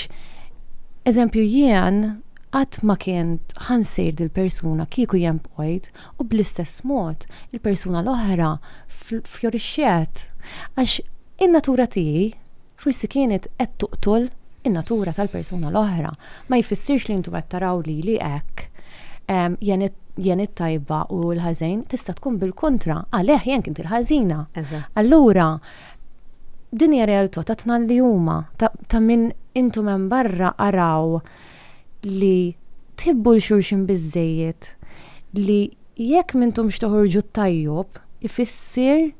eżempju jien qatt ma kien ħansir dil-persuna kieku jien bqajt U bl-istess mod, il-persuna l-oħra fjorixxiet għax in-natura tiegħi forsi kienet qed toqtol in-natura tal-persuna l-oħra. Ma jfissirx li intom qed taraw lili hekk. Jien it-tajba u hu l-ħażen, tista' tkun bil-kontra, għalih jien kint il-ħażina. Allura, din hija realtà ta' tnal li huma, ta' min intom hemm barra araw li tħibbu 'l xulxin biżżejjed li jekk m'intomx toħorġu t-tajjob ifissier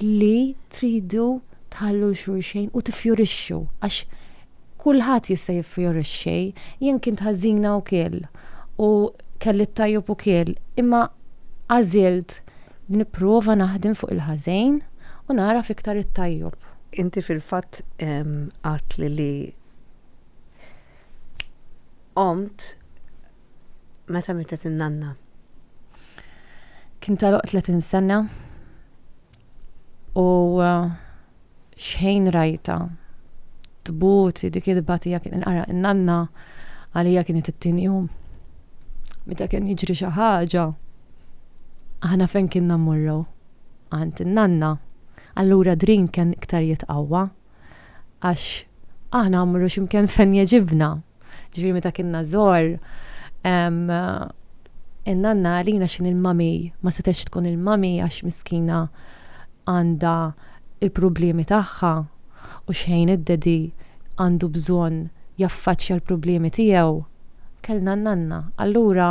li tridu tħallu 'l xulxejn u tiffjurixxu għax kulħadd jista' jiffjorixxi. Jien kint ħażina ukiel u kelli t-tajjob ukiel imma għażilt li nipprova naħdem fuq il-ħażejn u nagħraf iktar it-tajjob. Inti fil-fatt għadt li Qomt meta mietet in-nanna. Kien tagħluq 30 sena u uh, xħejn rajta tbuti dik il-batija kien inqara in-nanna għalija kienet it-tieni jum. Meta kien jiġri xi ħaġa, aħna fejn kien nammurru għand in-nanna, allura drin kien iktar jitqawwa. għax aħna għamru ximkien fen jieġibna. Ġifiri meta kienna zor, in-nanna għalina xin il-mami, ma setex tkun il-mami għax miskina għanda il-problemi tagħha u xejn id-dedi għandu bżon jaffaċċja l-problemi tiegħu. Kellna n-nanna. Allura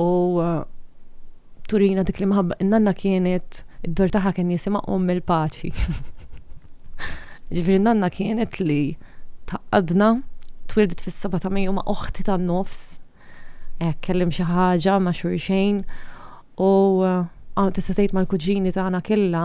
u turina dik l-imħabba. Nanna kienet, id-dor taħħa kien jisima om il-paċi. Ġifiri nanna kienet li taqqadna twildet fis-seba ta' Mejju ma' oħti tan-nofs. Eh, kellim xi ħaġa ma' xurxejn u eh, tista' tgħid mal-kuġini tagħna killa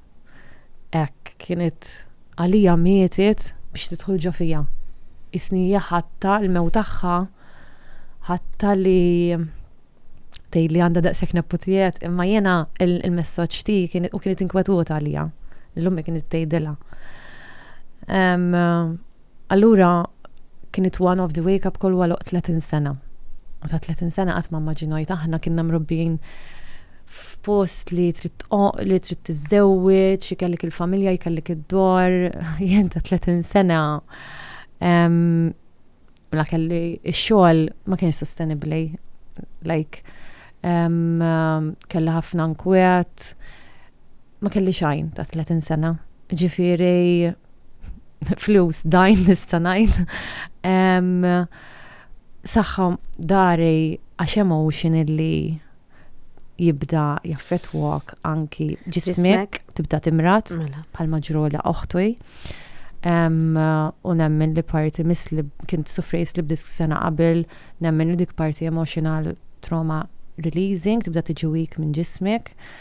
hekk kienet għalija mietet biex tidħol ġo fija. Isni hija ħatta l-mewt tagħha ħatta li tgħid li għandha daqshekk neputijiet, imma jiena il-messaġġ ti u kienet inkwetuta għalija. L-ummi kienet tgħidilha. Allura kienet one of the wake up call wara 30 sena. U ta' 30 sena qatt ma maġinajt aħna kienna mrobbin f'post li trid li trid tiżżewweġ, jkellik il-familja, jkellik id-dor, jien ta' 30 sena la kelli x-xogħol ma kienx sostenibbli. Like kelli ħafna nkwiet, Ma kelli xajn ta' 30 sena, ġifiri flus dajn nista' ngħid. Saħħa dari għax hemm ocean illi jibda jaffetwak anki ġismek tibda timrat mela. bħal maġrola oħtwi. U nemmen li parti mis li kint sufri slib disk sena qabel, nemmen li dik parti emotional trauma releasing tibda tiġi weak minn ġismek.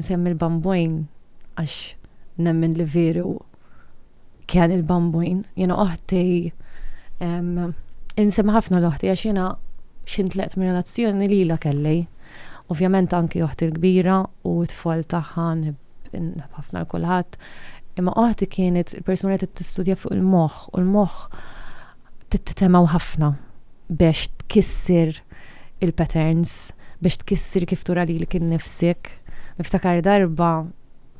Nsemmi il-Bambwin għax nemmen li veru kien il-Bambwin. Jena oħti insem ħafna l-oħti għax jena xintleqt minn relazzjoni li la kelli. Ovvjament anki oħti l-kbira u t-tfal tagħha ħafna l-kulħadd. Imma oħti kienet il-persuna li tistudja fuq il-moħħ u l-moħħ tittemgħu ħafna biex tkissir il-patterns, biex tkissir kif tura lilek innifsek. Niftakar darba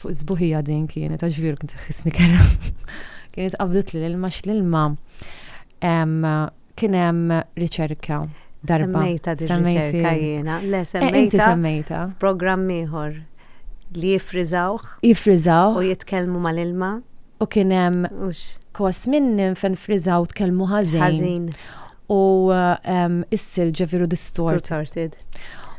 fuq sbuħija din kienet għax veru kien tħissni kera. kienet qabdet li l-ilma x'l-ilma kien hemm riċerka darba. Semmejta di riċerka jiena. Le eh, semmejta. Semmejta. Programm ieħor. Li jiffriżawh. Jiffriżawh. U jitkellmu mal-ilma. U kien hemm. Hux. Kos minnhom fejn ffriżaw u tkellmu ħażin. Ħażin. U s-silġ ġifieri distorted. Distorted.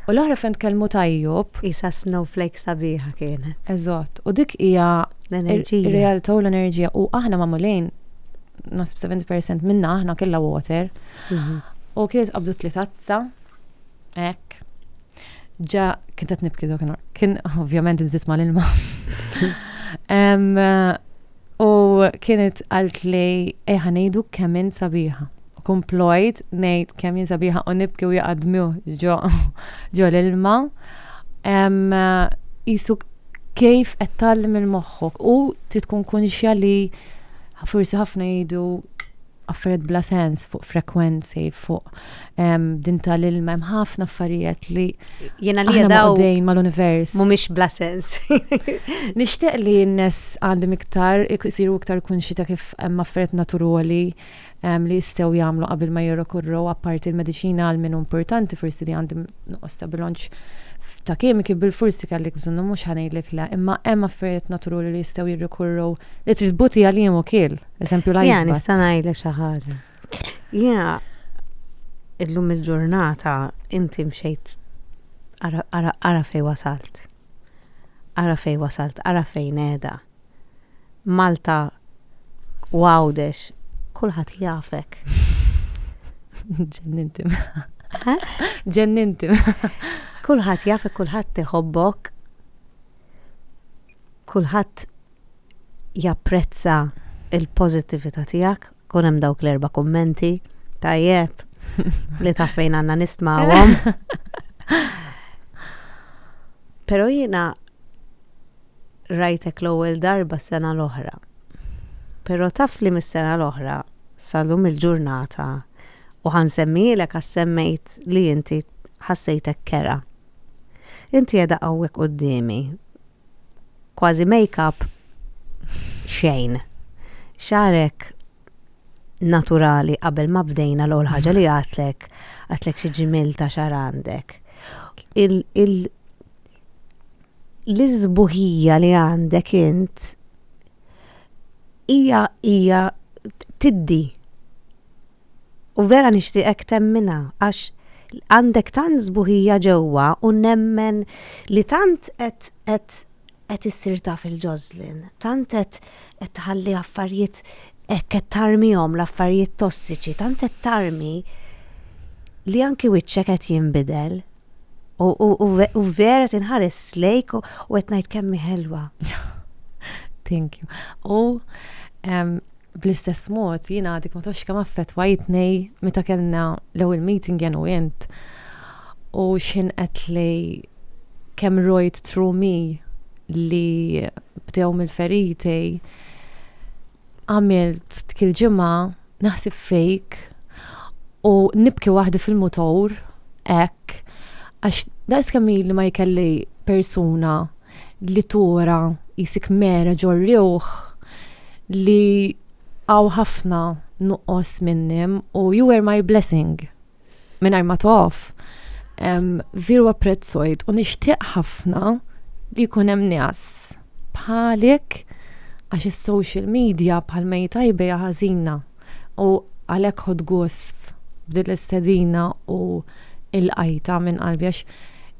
U l-oħra fejn tkellmu tajjub. Qisha snowflake sabiħa kienet. Eżatt. U dik hija. L-enerġija. Ir-realtà u l-enerġija. U aħna magħmulin, naħseb 70% minna aħna kellha water. U kienet qabdu t-tliet tazza. Hekk. Ġa, kien qed nibki dak Kien ovvjament nżid mal-ilma. U kienet għalt li eħa ngħidu kemm in sabiħa. Komplojt ngħid kemm in sabiħa u nibki u jaqadmu ġo ġo l-ilma. Isu kif qed tgħallem il-moħħok u trid tkun kunxja li forsi ħafna jgħidu affarijiet bla sens fuq frekwenzi, fuq din tal-ilma, hemm ħafna affarijiet li jena li jadaw dejn mal-univers. Mumiex bla sens. Nishtiq li n-nes għandim iktar, jisiru iktar kunxi ta' kif hemm affarijiet naturali li jistew jagħmlu qabel ma jirrokurru apparti l-mediċina għal minn importanti forsi li għandim nuqqos ta' bilonċ ta' kimiki bil-forsi kellek bżonnu mhux ħanejlek la, imma hemm affarijiet naturali li jistgħu jirrikurru li trid buti għalihom ukiel. Eżempju l-ice Ja, nista' ngħidlek xi ħaġa. Jiena illum il-ġurnata inti mxejt ara fej wasalt. Ara fej wasalt, ara fejn qiegħda. Malta għawdex, kulħadd jafek. Ġenninti. Ġenninti. Kulħadd jafek, kulħadd iħobbok. Kulħadd japprezza l-pożittività tiegħek, kun hemm dawk l-erba' kummenti tajjeb li taf fejn għandna nistmawhom. Però jiena rajtek l-ewwel darba s-sena l-oħra. Però taf li mis-sena l-oħra salum il-ġurnata u ħansemmilek għas semmejt li inti ħassejtek kera. Inti qiegħda hawnhekk qudiemi kważi makeup xejn. Xagħrek naturali qabel ma bdejna l-ewwel ħaġa li għatlek, għatlek xi ġimil ta' xar għandek. L-iżbuħija li għandek int hija hija tiddi U vera nixtieqek temminha għax għandek tant sbuħija ġewwa u nemmen li tant qed qed qed issir taf il-ġożlin, tant qed qed tħalli affarijiet hekk qed tarmihom l-affarijiet tossiċi, tant qed tarmi li anki wiċċek qed jinbidel. U vera tinħares lejk u qed ngħid kemm ħelwa. Thank you. U bl-istess mod jien għadik ma tafx kemm affettwajtni meta kellna l-ewwel meeting jen u int u xin qed li kemm rojt trumi li bdew mill-feriti Għamilt dik il-ġimgħa naħsib fejk u nibki waħdi fil-mutur hekk għax daqs kemm li ma jkelli persuna li tura jisik mera ġorriuħ li għaw ħafna nuqqos minnim u you were my blessing. mingħajr ma tof. Viru apprezzojt u nixtieq ħafna li jkun hemm nies bħalik għax is-social media bħal mejta jbejja ħażina u għalhekk ħod gost b'din l-istedina u il-qajta minn qalbi għax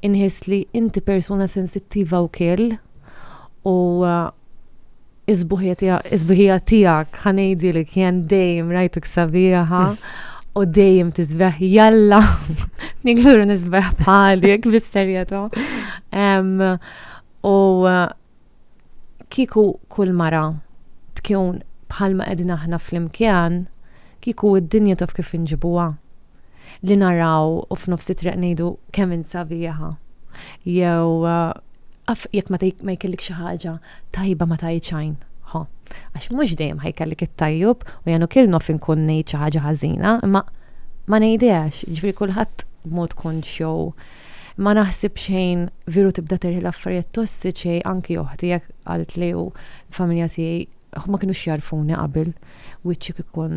inħis li inti persuna sensittiva wkoll u Is-sbuħija tiegħek ħa ngħidilek jien dejjem rajtek sabiħa u dejjem tisbeħ jalla nikluru nisbeħ bħalik bis-serjetà. U uh, kiku kull mara tkun bħalma qegħdin aħna flimkien, kiku id-dinja taf kif inġibuha. li naraw u f'nofs it-triq ngħidu kemm int sabiħa. Jew af jekk ma jkellik xi ħaġa tajba ma tajt xajn. Ho, għax mhux dejjem ħajkellik it-tajjub u janu kien nof inkun ngħid xi ħaġa ħażina, imma ma ngħidhiex, ġifieri kulħadd mod konx jew ma naħsib xejn viru tibda terħi l-affarijiet tossiċi anki oħti jekk għalt li u familja tiegħi ma kienu xjarfuni qabel wiċċi kikun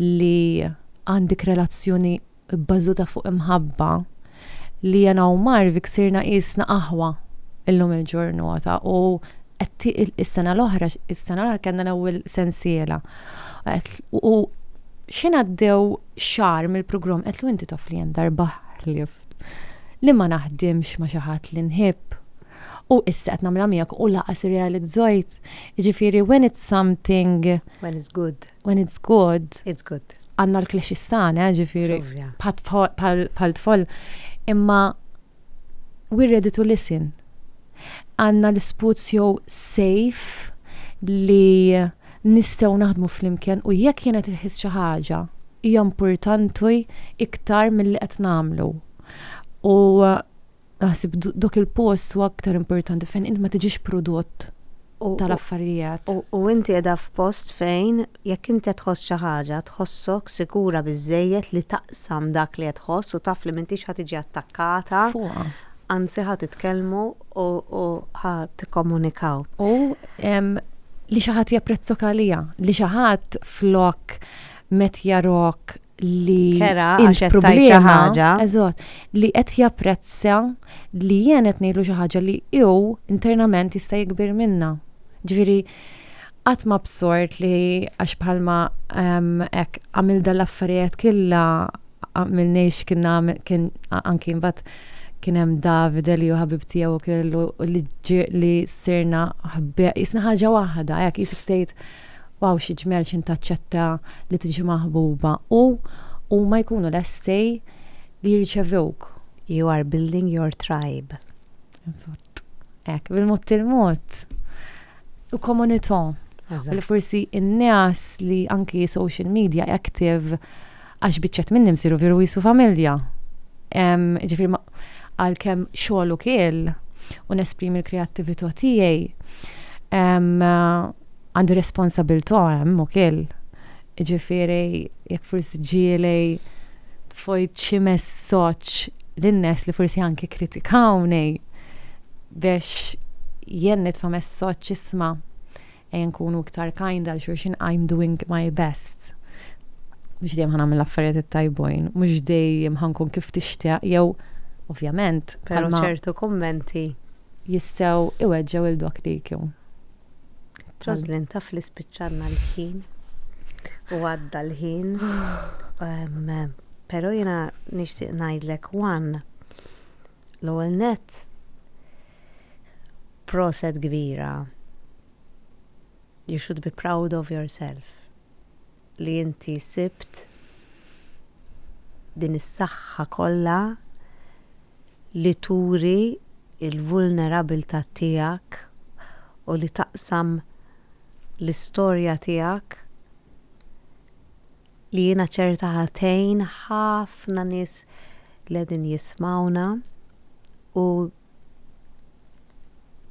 li għandik relazzjoni bbażuta fuq imħabba li jena u Marvik sirna qisna aħwa illum il-ġurnota u is-sena l-oħra, is-sena l-oħra kellna l-ewwel sensiela. U xina għaddew xar mill-programm qed lu inti taf li jen darba ħlift li ma naħdimx ma xi ħadd li nħibb. U issa qed nagħmilha miegħek u laqas irrealizzajt. Jiġifieri when it's something when it's good. When it's good. It's good. Għanna l-klexi stana, ġifiri. Pal tfol. Imma we're ready to listen. Għanna l-sputs jew safe li nistaw naħdmu fl-imkien u jekk jenet il-ħis xi ħaġa hija importanti iktar mill-li qed nagħmlu. U Naħseb dok il-post huwa aktar importanti fejn int ma tiġix prodott tal-affarijiet. U inti qiegħda f'post fejn jekk inti qed tħoss xi ħaġa, tħossok sikura biżżejjed li taqsam dak li qed tħoss u taf li m'intix ħa tiġi attakkata. Fuqha. Anzi ħa titkellmu u ħa tikkomunikaw. U li xi ħadd japprezzok għaliha, li xi ħadd flok met jarok li kera għax qed tgħid xi ħaġa. Eżatt, li qed japprezza li jien qed ngħidlu xi ħaġa li hu internament jista' jikbir minna. Ġifieri qatt ma bsort li għax bħalma hekk għamil dal-affarijiet killa għamil nejx kien anki mbagħad kien hemm David li hu ħabib tiegħu kellu li sirna ħbieq jisna ħaġa waħda hekk jisik tgħid Waw xi ġmiel x'int taċċetta li tiġi maħbuba u huma jkunu lesti li jirċevewk. You are building your tribe. Eżatt. Hekk, bil-mod il-mod. U komunità. Eżatt. Li forsi n-nies li anki social media active Għax biċċet minni msiru viru jisu familja. Ġifiri, għal kem xogħol u kiel u nesprimi l-kreattività tiegħi għandi responsabilta hemm u kiel. Ġifiri, jekk forsi ġieli fojt xi messaġġ lin-nies li forsi anke kritikawni biex jien nitfa' messaġġ isma' Ejja nkunu iktar kind għal xulxin I'm doing my best. Mhux dejjem ħa nagħmel l-affarijiet it-tajbujn, mhux dejjem ħa nkun kif tixtieq jew ovvjament. Però ċertu kummenti. Jistgħu iweġġgħu lil dawk li jkun. Roslyn taf li spiċċalna l-ħin u għadda l-ħin. Però jiena nixtieq ngħidlek one L-ewwel nett, proset kbira, you should be proud of yourself li inti sibt din is-saħħa kollha li turi l-vulnerabilità tiegħek u li taqsam l-istorja tiegħek li jiena ċerta ħa tgħin ħafna nies li qegħdin jismgħuna u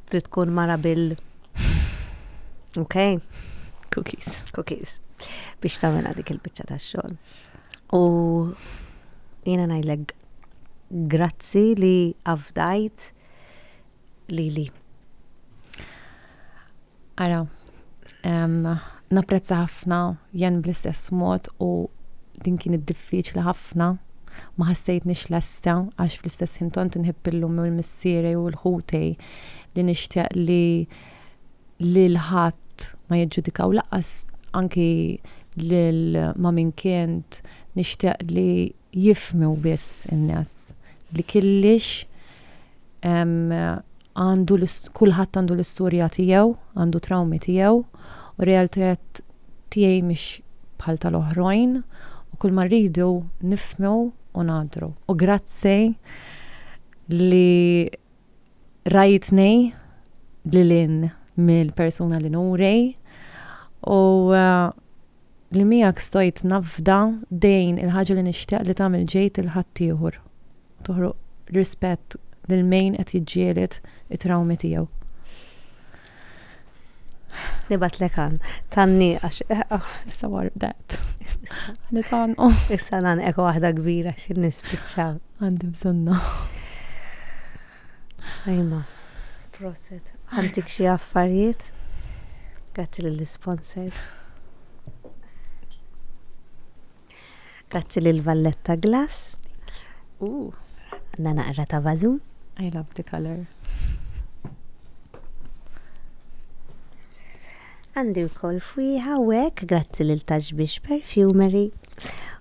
trid tkun mara bil ok cookies cookies biex tagħmilha dik il-biċċa tax-xogħol. U jiena ngħidlek grazzi li afdajt lili. Ara, napprezza ħafna jen bl-istess mod u din kienet diffiċli ħafna ma ħassejtnix lesta għax fl-istess ħin tant inħib illum u l-missierej u l-ħutej li nixtieq li li l-ħadd ma jiġġudikaw laqas anki lil ma min kient nixtieq li jifhmu biss in-nies li killiex għandu kulħadd għandu l-istorja tiegħu, għandu trawmi tiegħu, u realtajiet tiegħi mhix bħal tal-oħrajn, u kull ma rridu nifhmu u ngħaddru. U grazzi li Rajtni lil hinn mill-persuna li nuri u eh, li miegħek stojt nafda dejn il-ħaġa li nixtieq li tagħmel ġejt il-ħaddieħor. Toħroq rispett lil min qed jiġġieled it-trawmi tiegħu. Nibatlek għan, tanni għax. Issa war dat. Nitan. Issa nan eko waħda kbira xin nispiċċaw. Għandi bżonna. Ajma, proset. Għantik xie affarijiet? Grazzi l-sponsors. Grazzi lil Valletta Glass. Għandna naqra ta' Vazu. I love the color. Għandi wkoll fwieħa u hekk grazzi lil Taxbix Perfumery.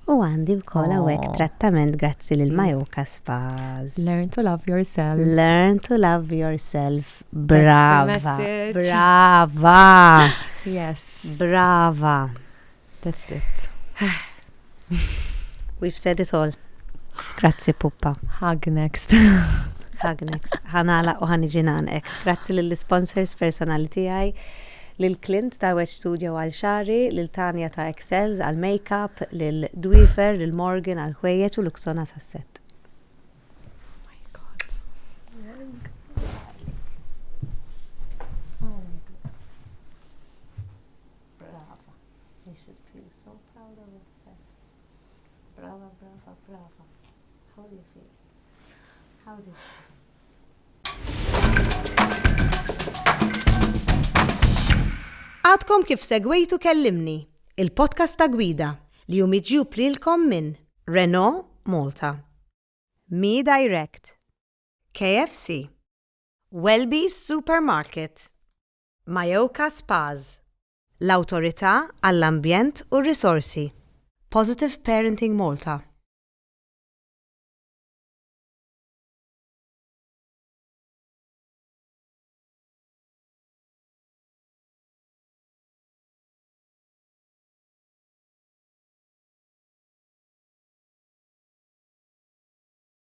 U għandi wkoll hawnhekk oh. trattament grazzi lil Majoka Spas. Learn to love yourself. Learn to love yourself. Brava. Brava. Yes. Brava. That's it. We've said it all. Grazzi puppa. Hug next. Hug next. Ħanala u ħaniġi nanek. Grazzi lill-sponsors personali tiegħi lil Clint ta' Wet Studio għal xari, lil Tanja ta' Excels għal makeup, lil Dwifer, lil Morgan għal ħwejjeġ u Luxona sasset. Brava. You should feel so proud of yourself. Brava, brava, brava. How do you feel? How do you feel? Għadkom kif segwejtu kellimni, il-podcast ta' gwida li jum iġjub lilkom minn Renault Malta, Mi Direct, KFC, Welby's Supermarket, Mayoka Spas, l-Awtorità għall-Ambjent u r-Risorsi, Positive Parenting Malta.